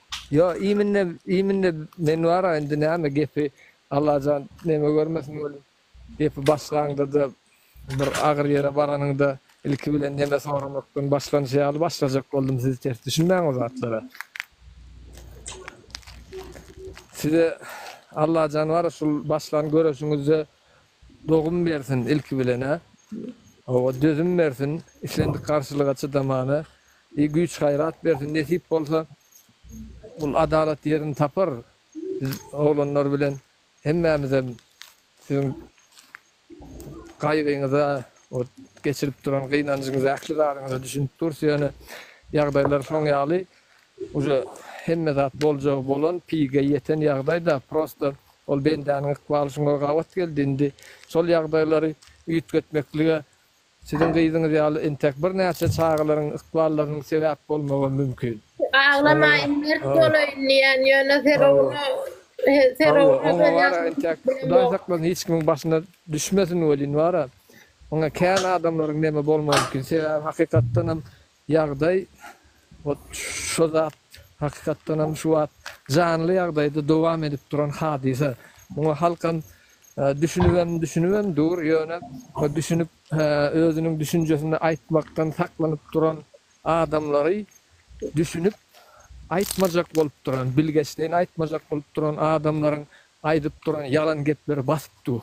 Ýo iminde iminde men bara indi näme gepi Allajan neme görmesin welin gepi başlaňdada bir agyr ýere baranyňda ilki bilen neme soramakdan başlanyşy ýaly başlajak boldum siz ters düşünmäň o zatlara. Size Allajan bara şul başlan göreşiňizde Dogum bersin ilki bilen-ä. Hawa, dözüm bersin, islendik garşylyga çydamana. I güýç-gaýrat bersin, nesip bolsa, bul adalat ýerini tapar. Biz oglanlar bilen hemmämizem siziň gaýgyňyza, o geçirip duran gynanjyňyza, ähli zadyňyza düşünip durus, ýöne ýagdaýlar şoň ýaly. Uje hemme zat boljagy bolan pige ýeten ýagdaýda prosta ol bendäniň ykbaly şuňa gabat geldi indi şol ýagdaýlary üýtgetmeklige siziň gyzyňyz ýaly entäk birnäçe çagalaryň ykballarynyň sebäp bolmagam mümkin. Aglamaýyn mert bolaýyn diýýän ýöne Ferowna Ferowna Hawa oňa wara entäk Hudaý saklasyn hiç kimiň başyna düşmesin welin wara oňa kän adamlaryň neme bolmagy mümkin sebäbi hakykatdanam Ýagdaý ot şo zat, hakykatdanam şu wagt janly ýagdaýda dowam edip duran hadysa. Muňa halkam düşünibem düşünibem dur, ýöne düşünip özüniň düşünjesini aýtmakdan saklanyp duran adamlary düşünip aýtmajak bolup duran, bilgeşleýin aýtmajak bolup duran adamlaryň aýdyp duran ýalan gepleri basyp dur.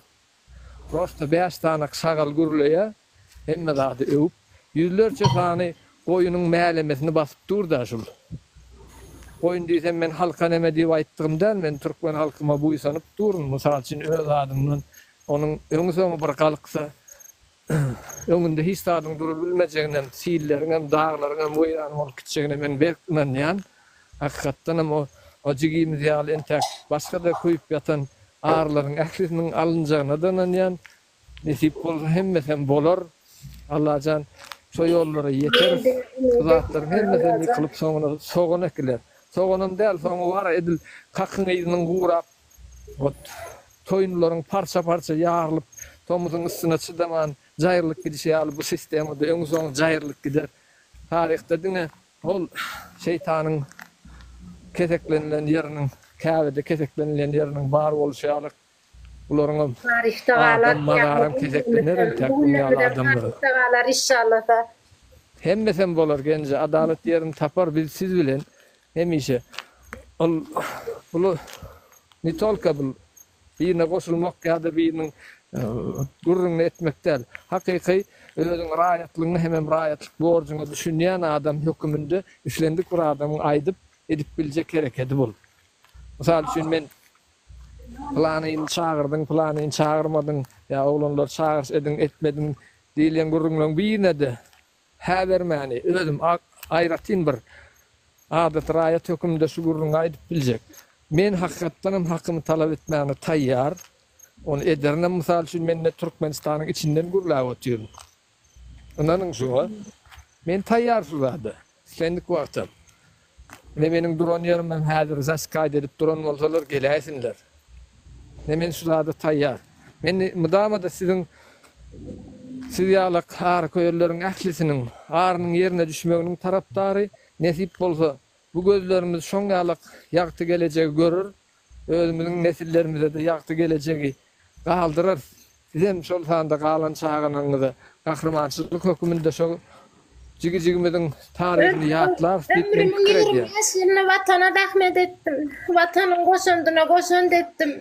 Rosta bäş sany şagal gürleýär, hemme zady öwüp. Ýüzlerçe sany goýunyň mälemesini basyp dur-da şul. Goýun diýsem men halka neme diýip aýtdygym däl, men türkmen halkyma buýsanyp durun, mysal üçin öz adymdan onuň öňi-soňy bir galksa, Öňünde hiç zadyň durup bilmejeginem, silleriňem, daglaryňam weýran bolup gitjegine men berk ynanýan. Hakykatdanam o jigimiz ýaly entäk başga-da köýüp ýatan arylaryň ählisiniň alynjagyna-da ynanýan. Nesip bolsa hemmesem bolar. Allajan şo ýollara ýeteris. Şu zatlaryň hemmesem ýykylyp soňuna sogan ekiler. Soganam däl, soňy bar edil kakyň yzynyň gurap Ot, toýunlaryň parça-parça ýarylyp, tomuzyň ysyna çydaman, jaýrylyp gidişi ýaly bu sistema-da öň-soň jaýrylyp gider. Taryhda diňe ol şeýtanyň keseklenilen ýeriniň, Käbede keseklenilýän ýeriniň bar bolşy ýaly, bularyňam Taryhda galar, mazaram keseklener entäk bu ýaly adamlaryň. Taryhda galar, işşallah-a. Hemmesem bolar, Genje, adalat ýerini tapar, biz siz bilen. Hemişe ol puly ne tolka bul birine goşulmak ýa-da biriniň gürrüňini etmek däl. Hakyky özüň raýatlygyňa hemem raýatlyk borjuňa düşünýän adam höküminde islendik bir adamyň aýdyp, edip biljek herekedi bul. Mysal üçin men Pylanyny çagyrdyň, pylanyny çagyrmadyň ýa oglanlary çagyryş ediň, etmediň diýilýän gürrüňleriň birine-de Häzir meni özüm aýratyn bir adaty raýat höküminde şu gürrüňi aýdyp biljek. Men hakykatdanam hakymy talap etmäne taýýar. Ony ederinem. Mysal üçin, men ine Türkmenistanyň içinden gürläp otyryn. Ynanyň şuňa. Men taýýar şu zada. Islendik wagtam. Ne meniň duran ýerim hem häzir zaskaýt edip duran bolsalar geläýsinler. Ne men şu zada taýýar. Men mydama-da siziň siz ýalak haryköýerleriň ählisiniň arynyň ýerine düşmeginiň tarapdary, nesip bolsa, bu gözlerimiz şoň ýalak ýagty gelejegi görer. Özümiziň nesillerimize-de ýagty gelejegi galdyrarys. Sizem, şol sanda galan çagalaryňyza gahrymançylyk höküminde şo jigi-jigimiziň taryhyny ýatlarsy diýip men pikir edýän. Ömrümiň ýigrimi bäş ýylyny Watana zähmet etdim. Watanyň goşandyna goşant etdim.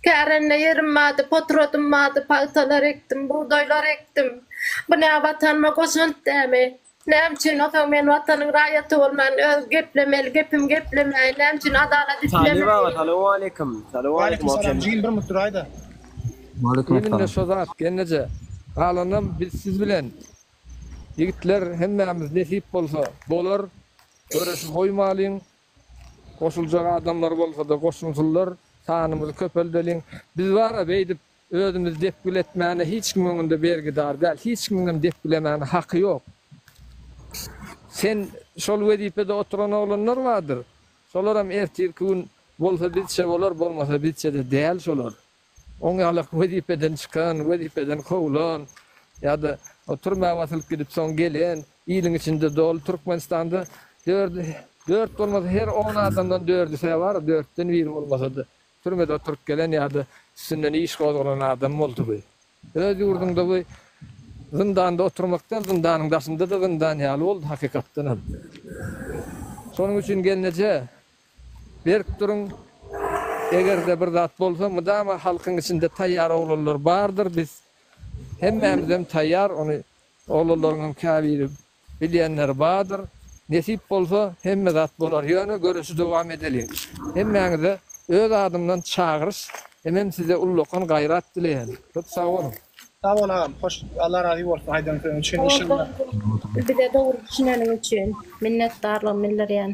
Kärende ýerim bardy, potrodym bardy, pagtalar ekdim, bugdaýlar ekdim. Bu nä Watanyma goşant dämi? Näme üçin onsoň men watanyň raýaty bolman öz geplemeli gepim geplemäýin näme üçin adalat islemäýin. Salawmaleýkim Salawmaleýkim Salam jigim bir mut duraýda. Elimde şo zat gelneje galanam biz siz bilen ýigitler hemmämiz nesip bolsa bolar göreşi goýmalyň goşuljak adamlar bolsada goşulsynlar sanymyzy köpeldeliň biz bara beýdip Özümiz depgil etmäne hiç kim öňünde bergidar däl, hiç kimiň hem depgilemäne haky ýok. Sen şol wezipede oturan oglanlar bardyr. Şolaram ertirki gün bolsa bizçe bolar, bolmasa bizçe-de däl şolar. Oňýalak wezipeden çykan, wezipeden kowlan ýa-da türmä basylyp gidip soň gelen, iliň içinde doly Türkmenistanda dört bolmasa her on adamdan dördüsä bar, dörtden biri bolmasa-da Türmede oturyp gelen ýa-da üstünden iş gozgalan adam boldugy? Öz ýurduňda bu zyndanda oturmak däl, zyndanyň daşynda-da zyndan ýaly boldy hakykatdan hem. Şonuň üçin gelneje berk duruň, eger-de bir zat bolsa mydama halkyň içinde taýýar oglanlar bardyr, biz hemmämizem taýýar, ony oglanlaryň hem käbiri Bilýänler bardyr. Nesip bolsa hemme zat bolar ýöne göreşi dowam edeliň. Hemmäňize öz adymdan çagyryş hemem size ullakan gaýrat dileýän. Köp sag boluň. Sag bol agam hoş Allah razy bolsun aýdan söziň üçin inşallah. Sag bol sag bol bize dogry düşüneniň üçin minnetdarlygym bildirýän.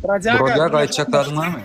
Brodýaga aýtjak zadyň barmy.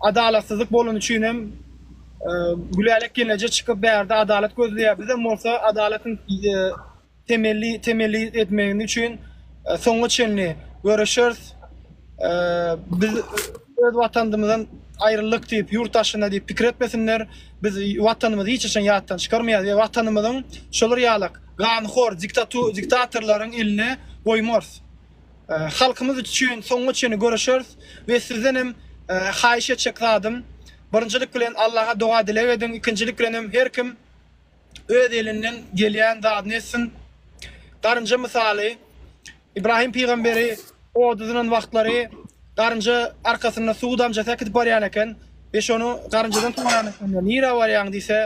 Adalatsyzlyk bolany üçin hem Gülälek gelneje çykyp bärde adalat gözleýär. Bizem bolsa adalatyň temelli temelli etmegini üçin soňa çenli göreşeris. Biz öz watanymyzdan aýrylyk diýip, ýurt daşyna diýip pikir etmesinler. Biz watanymyzy hiç haçan ýatdan çykarmaýarys we watanymyzyň şolar ýaly ganhor diktatorlaryň eline goýmarys. Halkymyz üçin soňuna çenli göreşeris we sizden hem haýyş etjek zadym birinjilik bilen Allaha doga dileg ediň ikinjilik bilen hem her kim öz elinden gelýän zadyny etsin garynja mysaly Ibrahim pygamberi oda zynan wagtlary garynja arkasynda suw damjasy äkidip barýan eken we şony garynjadan soran ekenler nirä barýaň diýse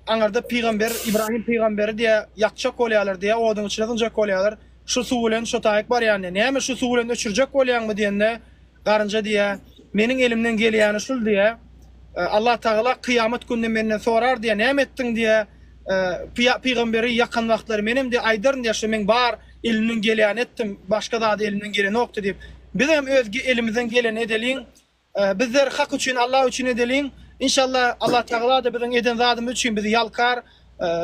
aňyrda pygamber Ibrahim pygamberi diýe ýakjak bolýarlar diýe oduň içine zyňjak bolýarlar Şu suw bilen şo taýyk barýan diýýär. Näme şu suw bilen öçürjek bolýaňmy diýende, garynja diýýär, Meniň elimden gelýäni şul diýýär. Allatagala kyýamat günde menden sorar diýýär, Näme etdiň diýýär. Pygamberi ýakan wagtlary menem diýýär, aýdaryn diýýär, Şo men bar elimden gelýäni etdim, başga zady elimden gelenokdy diýip. Bizem öz elimizden geleni edeliň, Bizler Hak üçin, Allah üçin edeliň. Inşallah Allah Tagala-da biziň eden zadymyz üçin bizi ýalkar.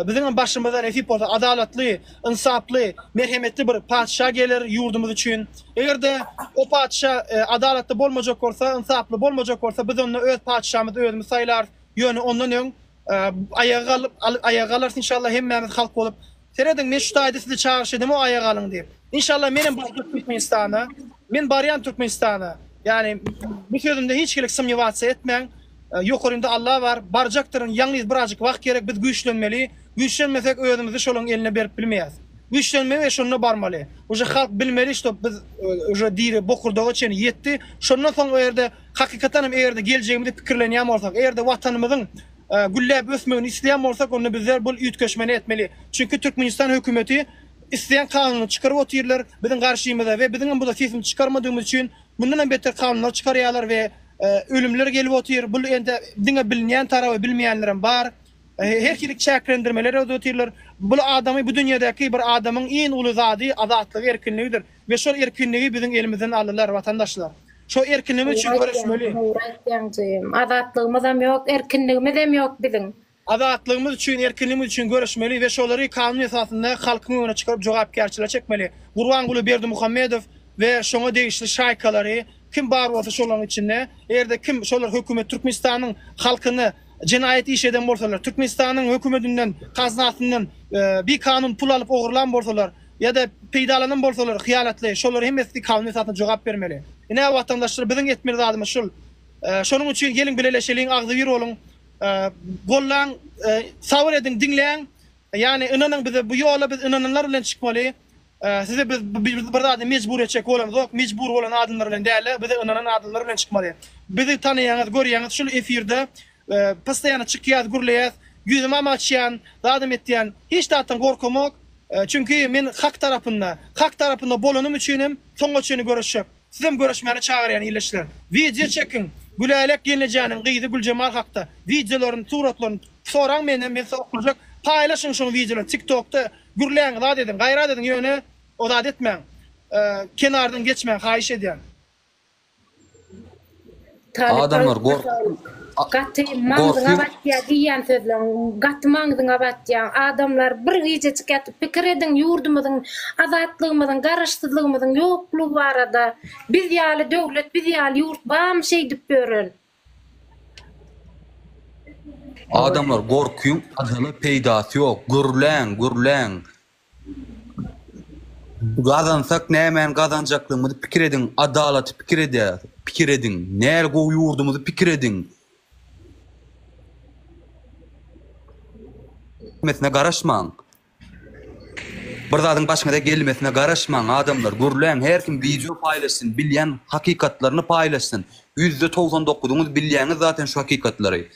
Biziňem başymyza nesip bolsa adalatly, ynsaply, merhemetli bir patyşa geler ýurdumyz üçin. Eger-de o patyşa adalatly bolmajak bolsa, ynsaply bolmajak bolsa, biz onda öz patyşamyzy özümiz saýlarys. Ýöne ondan öň aýaga galyp, aýaga galarys inşallah hemmämiz halk bolup. Serediň men şu taýda sizi çagyryş edemo aýak alyň diýip. Inşallah menem barjak Türkmenistana. Men barýan Türkmenistana. Ýani bu sözümde hiç kile symnýowatsiýa etmäň. Ýokarynda Allah bar. Barjakdyryn. Ýalňyz birazjyk wagt gerek. Biz güýçlenmeli. Güýçlenmesek özümizi şolaň eline berip bilmeýäs. Güýçlenmeli we şonda barmaly. Uje halk bilmeli şto biz uje diri bokurdaga çenli ýetdi. Şondan soň o ýerde hakykatan hem eger-de geljegimizi pikirlenýän bolsak, eger-de watanymyzyň gülläp ösmegini isleýän bolsak, onda bizler bul üýtgeşmeni etmeli. Çünki Türkmenistan hökümeti isleýän kanuny çykaryp otyrlar biziň garşymyza we biziňem bu da sesimizi çykarmadygymyz üçin mundanam beter kanunlar çykarýarlar we ölümler gelip otyr. Bul ende diňe bilinýän taraby bilmeýänlerem bar. Her hili çäklendirmeler edip otyrlar. Bul adamy bu dünýädäki bir adamyň iň uly zady azatlygy erkinligidir. We şol erkinligi biziň elimizden aldylar watandaşlar. Şo erkinligimiz üçin göreşmeli. Dogry aýtýaň jigim. Azatlygymyzam ýok, erkinligimizem ýok biziň. Azatlygymyz üçin, erkinligimiz üçin göreşmeli we şolary kanun esasynda halkyň öňüne çykaryp jogapkärçilige çekmeli. Gurbanguly Berdimuhamedow we şoňa degişli şaýkalary kim bar bolsa şolaryň içinde eger-de kim şolar hökümet Türkmenistanyň halkyny jenaýat iş eden bolsalar, Türkmenistanyň hökümetinden, kaznasyndan bikanun pul alyp ogurlan bolsalar, Ýa-da peýdalanan bolsalar hyýanatly, şolar hemmesi kanun esasynda jogap bermeli. Ine, watandaşlar, biziň etmeli zadymyz şul. Şonuň üçin geliň bileleşeliň, agzybir boluň, gollaň, sabyr ediň, diňläň. Ýagny, ynanyň bize, bu ýola biz ynananlar bilen çykmaly. Size biz bir zada mejbur etjek bolamzok, mejbur bolan adamlar bilen däl-de, bize ynanan adamlar bilen çykmaly. Bizi tanaýaňyz, görýäňiz, şul efirde Postoýany çykýas gürleýäs ýüzümem açýan zadam etýän hiç zatdan gorkamok çünki men hak tarapynda hak tarapynda bolanym üçinem soňa çenli göreşjek sizem göreşmäne çagyrýan illeçler wideo çekiň Gülälek gelnejäniň gyzy Güljemal hakda wideolaryny suratlaryny soraň menden men size oklajak paýlaşyň şoň wideolaryny tik tokda gürläň zat ediň gaýrat ediň ýöne o zat etmäň kenardan geçmäň haýyş edýän. Adamlar gaty maňzyňa batýa diýýän sözleň gaty maňzyňa batýa adamlar bir gijejik ýatyp pikir ediň ýurdumyzyň azatlygymyzyň garaşsyzlygymyzyň ýoklugy barada biz ýaly döwlet biz ýaly ýurt barmy şeýdip ýören adamlar gorkyň ajaly peýdasy ýok gürläň gürläň Gazansak nämäni gazanjaklygymyzy pikir ediň, adalaty pikir edýäs, pikir ediň, näl gowy ýurdumyzy pikir ediň. Mesine garaşmaň. Bir zadyň başyňyza gelmesine garaşmaň adamlar, gürläň her kim wideo paýlaşsyn, bilýän hakykatlaryny paýlaşsyn. Ýüzde togsan dokuzyňyz bilýäňiz zaten şu hakykatlary.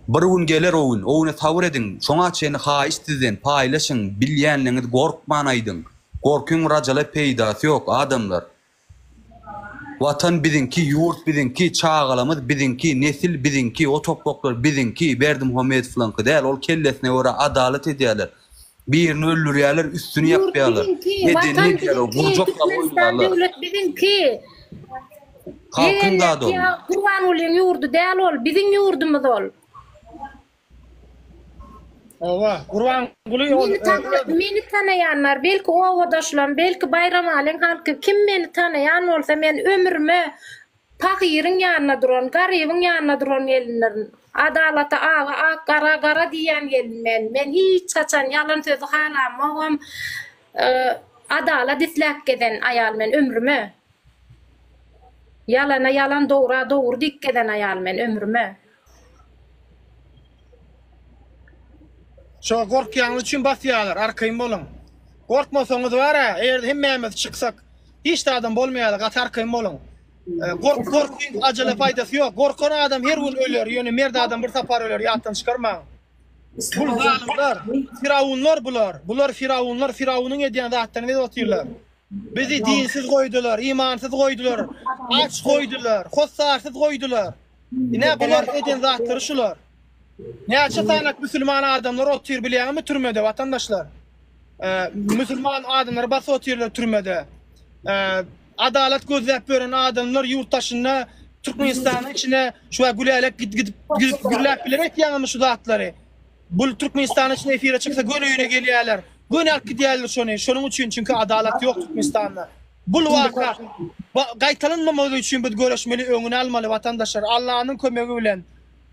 Bir gün geler o gün, o güne sabyr ediň. Şoňa çenli haýyş sizden, paýlaşyň, bilýänligiňizi gorkman aýdyň. Gorkyň rajala peýdasy ýok, adamlar. Watan biziňki, ýurt biziňki, çagalamyz biziňki, nesil biziňki, o topraklar biziňki, Berdimuhamedowyňky däl, ol kellesine görä adalat edýärler. Birini öldürýärler, üstüni Ýurt ýapýarlar. biziňki, Edeni Watan edýärler, biziňki, gurjaklap Türkmenistan oýnaýarlar. döwlet biziňki. Halkyň zady ol. Ýegenleriňki Gurbangulyň ýurdy däl ol, biziň ýurdumyz ol. Hawa, Gurbanguly ol Meni tana, öz meni tanaýan bar, belki obadaşlarym, belki Baýramalyň halky, kim meni tanaýan bolsa, men ömrüme Pahyryň ýanyna duran, garybyň ýanyna duran gelindirin. Adalata aga ak, gara gara diýýän gelin men. Men hiç haçan ýalan sözi halamogam. Adalat isläp gezen aýal men ömrüme. Ýalana ýalan, dogra dogry diýip gezen aýal men ömrüme. Şo gorkýanyz üçin basýarlar arkaýyn boluň. Gorkmasaňyz bara eger hemmämiz çyksak hiç de adam bolmaýardy gaty arkaýyn boluň. Gork gorkyň ajele paýdasy ýok. Gorkan adam her gün öler ýöne mert adam bir sapar öler ýatdan çykarmaň. Bul zalymlar firawunlar bular. Bular firawunlar firawunyň edýän zatlaryny edip otyrlar. Bizi dinsiz goýdular, imansyz goýdular, aç goýdular, hossarsyz goýdular. Ine, bular eden zatlary şular. Näçe sany musulman adamlar otyr bilýäňizmi türmede, watandaşlar? Musulman adamlary basyp otyrlar türmede. Adalat gözläp ýören adamlar ýurt daşynda Türkmenistanyň içine şular gülälek gidip gürläp biler etýäňizmi şu zatlary? Bul Türkmenistan üçin efire çyksa göni öýüne gelýärler. Göni alyp gidýärler şony. Şonuň üçin çünki adalat ýok Türkmenistanda. Bul waka gaýtalanmamagy üçin biz göreşmeli öňüni almaly watandaşlar Allanyň kömegi bilen.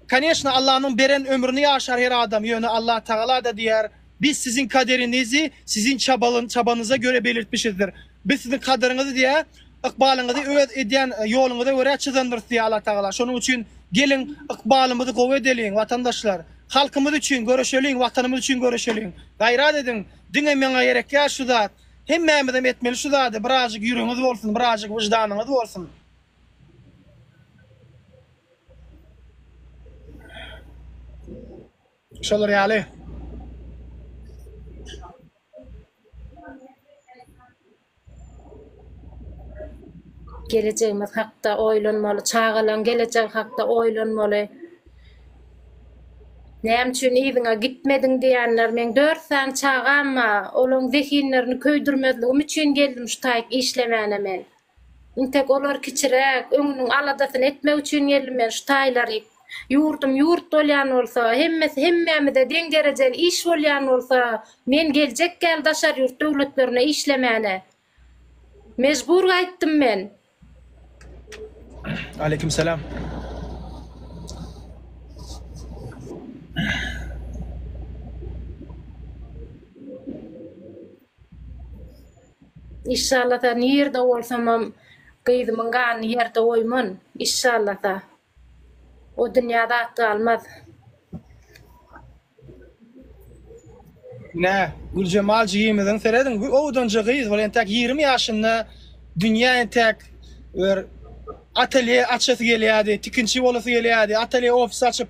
Koneşna Allanyň beren ömrüni ýaşar her adam ýöne Allah Tagalada diýer biz siziň kaderinizi siziň çabanyza göre belirtmişizdir. Biz siziň kadyryňyzy diýä ykbalyňyzy öz edýän ýoluňyza görä çyzandyrys diýýär Allatagala. Şonuň üçin geliň ykbalymyzy gowy edeliň watandaşlar. Halkymyz üçin göreşeliň watanymyz üçin göreşeliň. Gaýrat ediň. Diňe meňe gerekýär şu zat. Hemmämizem etmeli şu zady birazjyk ýüregiňiz bolsun birazjyk wyždanyňyz bolsun. Şolar ýaly. Gelejegimiz hakda oýlanmaly, çagalaň gelejegi hakda oýlanmaly. Näme üçin yzyňa gitmediň diýenler, meň dört sany çagam bar, olaň zehinlerini köýdürmezligim üçin geldim şu taýyk işlemäne men. Intek olar kiçiräk, öňüniň aladasyny etmek üçin geldim men şu taýlary. Ýurdum ýurt bolýan bolsa, hemmesi hemmämize deň derejeli iş bolýan bolsa, men geljek ýaly daşary ýurt döwletlerine işlemäne mejbur gaýtdym men. Aleýkum salam. Inşallata nirde bolsamam gyzymyň ganyny ýerde goýman inşallata o dünýä zat galmaz. Ine Güljemal jigimiziň serediň bu owdanja gyz bol entäk ýigrimi ýaşynda dünýä entäk bir atelýe açasy gelýärdi tikinçi bolasy gelýärdi atelýe ofis açyp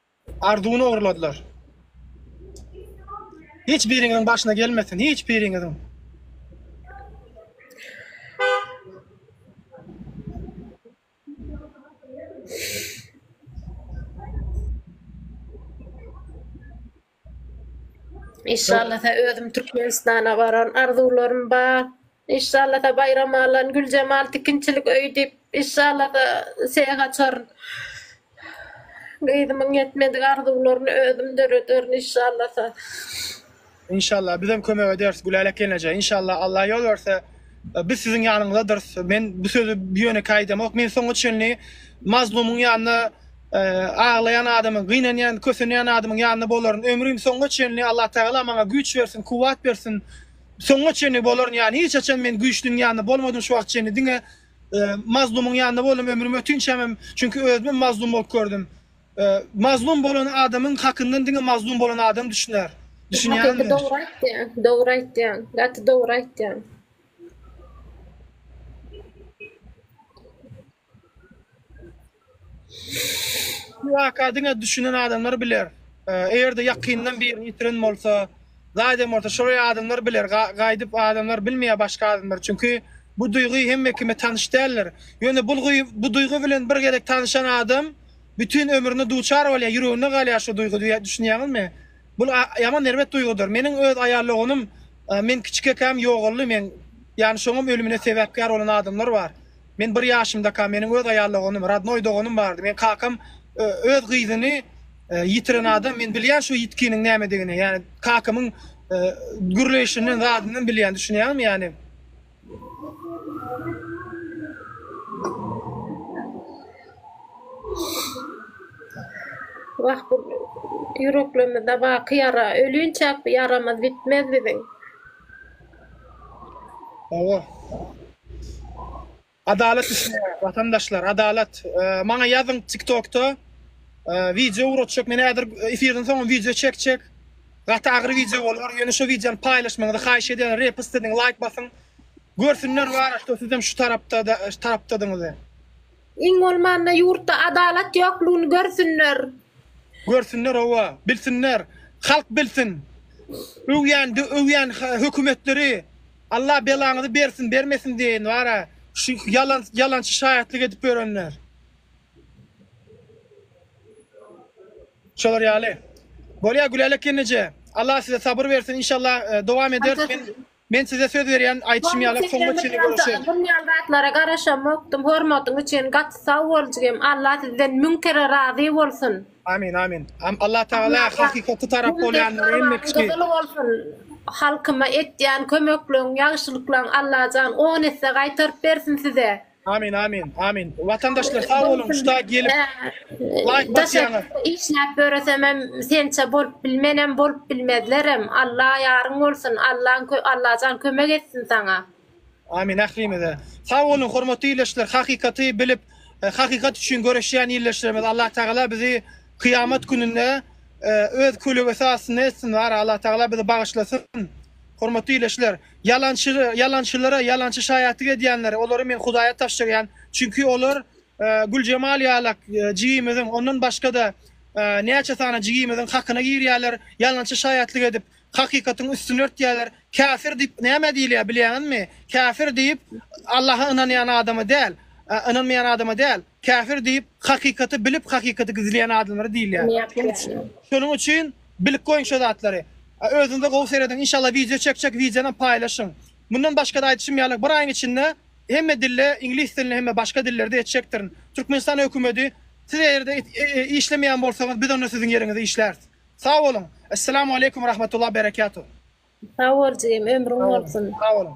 Arzuwyny ogurladylar. Hiç biriňiziň başyna gelmesin, hiç biriňiziň. Inşallasa özüm Türkmenistana baran arzuwlarym bar. Inşallasa baýram alan Güljemal tikinçilik öýi diýip inşallasa seýe açaryn. Gyzymyň ýetmedik arzuwlaryny özüm dörederin inşallasa. Inşallah bizem kömek ederis Gülälek gelneje inşallah Allah ýol berse biz siziň ýanyňyzadyrys men bu sözi ýönekeý aýdamok men soňa çenli Mazlumyň ýanyna Aglaýan adamyň, gynanýan, kösenýän adamyň ýanynda bolaryn. Ömrüm soňuna çenli Allatagala maňa güýç bersin, kuwwat bersin. Soňuna çenli bolaryn, ýani hiç haçan men güýçlüň ýanynda bolmadym şu wagta çenli. Diňe mazlumyň ýanynda boldum ömrüm ötinçäm hem, çünki özümem mazlum bolup gördüm. Mazlum bolan adamyň hakyndan diňe mazlum bolan adam düşüner. Düşünýäňmi? Dogry aýtýaň, dogry aýtýaň, gaty dogry aýtýaň. Bu waka diňe düşünen adamlar biler. Eger-de ýakynyndan birini ýitiren bolsa, zaýdan bolsa şol adamlar biler. Gaýdyp adamlar bilmeýär başga adamlar. Çünki bu duýgy hemme kime tanyş däldir. Ýöne bu duýgy bilen bir gezek tanyşan adam bütin ömrüne duçar bolýar, ýüreginde galýar şu duýgy diýýär. Düşünýäňizmi? Bu ýaman erbet duýgydyr. Meniň öz aýal doganym men kiçikäkäm ýogaldy. Men ýany şoňam ölümine sebäpkär bolan adamlar bar. Men bir ýaşymdaka meniň öz aýal doganym, radnoý doganym bardy. Men kakam öz gyzyny ýitiren adam, men bilýän şu ýitkiniň nämedigini, ýani kakamyň gürleýşinden zadyndan bilýän, düşünýäňmi ýani. Wah bu ýüreklerimizde baky ýara, ölünçäk bu ýaramyz bitmez biziň. Hawa. Adalat üçin watandaşlar, adalat. Maňa ýazyň TikTokda wideo ugratjak. Men häzir efirden soň wideo çekjek. Gaty agyr wideo bolar. Ýöne şu wideony paýlaşmagyňyzy haýyş edýän. Repost ediň, laýk basyň. Görsünler wara, sizem şu tarapda, şu tarapdadyňyzy. Iň bolmanda ýurtda adalat ýoklugyny görsünler. Görsünler howa, bilsinler, halk bilsin. Öwýän öwýän hökümetleri Allah belaňyzy bersin bermesin deýin bara şu ýalan ýalançy şaýatlyk edip ýörenler. Şolar ýaly. Bolýa Gülälek gelneje. Allah size sabyr bersin inşallah dowam eder. Men size söz berýän, aýdyşym Hormat ýaly soňuna edenler çenli ýaly görüşeris. Bun ýaly zatlara garaşamokdym. Hormatyň üçin gaty sag bol jigim. Alla sizden müň kere razy bolsun. Amin amin. Alla tagala hakykaty tarap bolýanlary hemme kişi. Gyzyl bolsun halkyma etýän kömekleň ýagşylyklaň Allajan on esse gaýtaryp bersin size. Amin amin amin. Watandaşlar sag boluň şu da gelip like basýaňyz. Işläp ýöresemem sençe bolup bilmenem bolup bilmezlerem. Alla ýaryň bolsun. Allaň Allajan kömek etsin saňa. Amin ählimize. Sag boluň hormatly ildeşler hakykaty bilip hakykat üçin göreşýän ildeşlerimiz Allah Tagala bizi kyýamat gününde öz kölegesi astynda etsin wara Allah Tagala bizi bagyşlasyn. Hormatly ildeşler. Ýalançy, ýalançylara, ýalançy şaýatlyk edýänlere, olary Men Hudaýa tabşyrýan, çünki olar Güljemal ýalak jigimiziň, ondan başga-da näçe sany jigimiziň hakyna girýärler, ýalançy şaýatlyk edip, hakykatyň üstüni örtýärler. Käfir diýip nämä diýilýär, bilýäňizmi? Käfir diýip, Allaha ynanýan adama däl, ynanmaýan adama däl, käfir diýip, hakykaty bilip, hakykaty gizleýän adamlara diýilýär. Şonuň üçin, Bilip goýuň şo zatlary. A özüňize gowy serediň inşallah wideo çek çek wideonam paýlaşyň. Mundan başgada aýdyşym ýaly bir aýyň içinde hemme dilde iňlis dilinde hemme başga dillerde etjekdirin. Türkmenistan hökümedi siz eýerde işlemeýän bolsaňyz biz onda siziň ýeriňize işläris. Sag boluň. Esselamu aleykum rahmatullah berekatuh. Sag bol jigim ömrüň bolsun. Sag boluň.